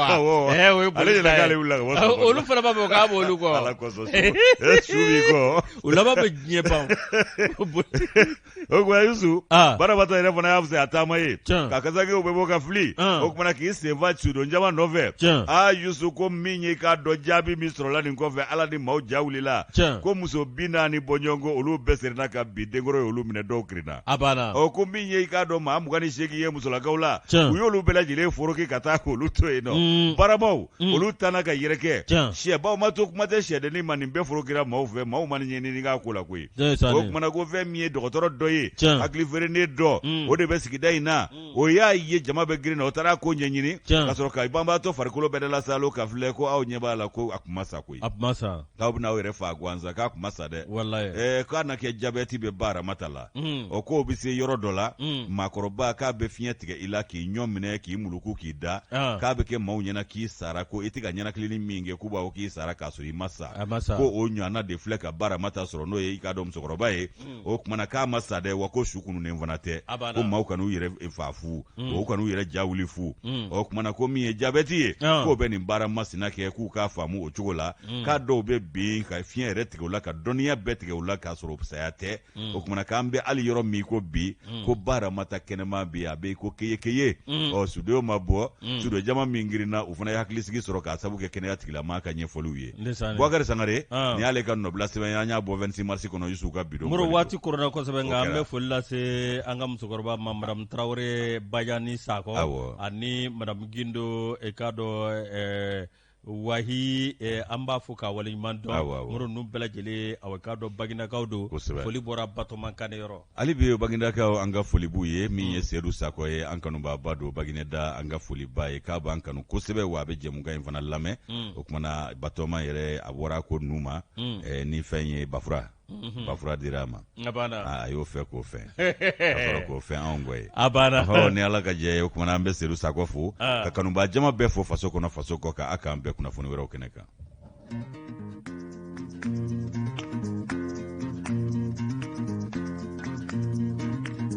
Speaker 1: olu fana b'a fɔ k'a
Speaker 2: bɔ
Speaker 1: olu kɔ u laban bɛ diɲɛ
Speaker 2: ban
Speaker 1: o kumana yusu baramata yɛrɛ fana y'a fisaya taama ye ka kasankew bɛɛ bɔ ka fili o kumana k'i sen fa sudon jama nɔfɛ aa yusu ko min ye k'a dɔn jaabi min sɔrɔla nin kɔfɛ ala ni maaw ja wulila ko muso bi naani bɔɲɔgɔnko olu bɛɛ serinna ka bin denkɔrɔ ye olu minɛ dɔw kirinna a banna ɔ ko min ye i k'a dɔn maa mugan ni seegin ye musolakaw la u y'olu bɛɛ lajɛlen foroki ka taa k'olu to yen nɔ mm. baramaw mm. olu tanna ka yɛrɛkɛ sɛbaw ma to kuma tɛ sɛdennin ma nin bɛɛ forokira maaw fɛ maaw ma nin ɲɛɲini k'a ko la koyi o kumana ko fɛn min ye dɔgɔtɔrɔ dɔ ye hakili feerenen dɔ mm. o de bɛ sigida in na o y'a ye jama bɛ girinna o taara ko ɲɛɲini ka sɔrɔ ka banabaatɔ farikolo bɛɛ la saalo k'a filɛ ko aw ɲɛ b'a la ko a kun ma sa koyi a kun ma sa k'aw bɛn'aw yɛrɛ faa gansan k'a kun ma sa dɛ k'a na kɛ jabɛti bɛ baaramata la o k'o bɛ se yɔrɔ dɔ la maakɔrɔba k'a bɛ fiɲɛ tigɛ i la k'i ɲɔn minɛ k'i muluku k'i da k'a bɛ kɛ maaw ɲɛna k'i sara ko i tɛ ka ninakili min kɛ k'u b'a fɔ k'i sara ka sɔrɔ i ma sa ko o ɲɔgɔnna de filɛ ka baaramata sɔrɔ n'o ye i k'a dɔn musokɔrɔba ye hmm. o kumana k'a ma sa dɛ wa ko su kununnen fana tɛ ko maaw kan'u yɛrɛ fa fu hmm. u kan'u yɛrɛ ja wuli fu hmm. o kumana ko min ye jabɛti ye ah. k'o bɛ nin baara masina kɛ k'u k'a faamu o cogo la k'a dɔw bɛ bin ka fiɲɛ yɛrɛ tigɛ u la ka dɔnniya bɛɛ tigɛ u la k'a sɔrɔ saya tɛ o kumana k'an bɛ hali yɔrɔ min ko bi mm. ko baaramata kɛnɛma bi a bɛ ko keye keye mm. ɔ sudenw ma bɔ mm. sudonjama min girinna u fana ye hakilisigi sɔrɔ k'a sabu kɛ kɛnɛya tigilamaa ka ɲɛfɔliw ye bubakari sangare ah. ni y'ale ka nɔbila sɛbɛn an y'a bɔ 26 mars kɔnɔ yusu ka bidon moro waati koronna
Speaker 2: kosɛbɛ nka an bɛ foli lase an ka musokɔrɔba ma madamu tarawele bajani sakɔ ani madamu gindo e k'a dɔn eh, wahi eh, an b'a fo k'a waleɲuman dɔn Awɔ, awɔ. moro ninnu bɛɛ lajɛlen awɔ k'a dɔn baginakaw don Kosɛbɛ. foli bɔra batɔma kane yɔrɔ hali bi bagindakaw
Speaker 1: an ka foli b'u ye min ye sedu sakɔ ye an kanubaaba don bagineda an ka foli b'a ye k'a b'an kanu kosɛbɛ wa a bɛ jɛmukan in fana lamɛn o kumana batɔma yɛrɛ a bɔra ko ninnu ma eh, ni fɛn ye bafura Mhm. ba fura dira a ma a y'o fɛ k'o fɛn a k'o fɛn anw kɔ ye a banna hɔ ni ala
Speaker 2: ka jɛ ye o kumana
Speaker 1: an bɛ sedu sakɔ fo ah. ka kanubaa jama bɛɛ fo faso kɔnɔ faso kɔ kan a k'an bɛn kunnafoni wɛrɛw kɛnɛ kan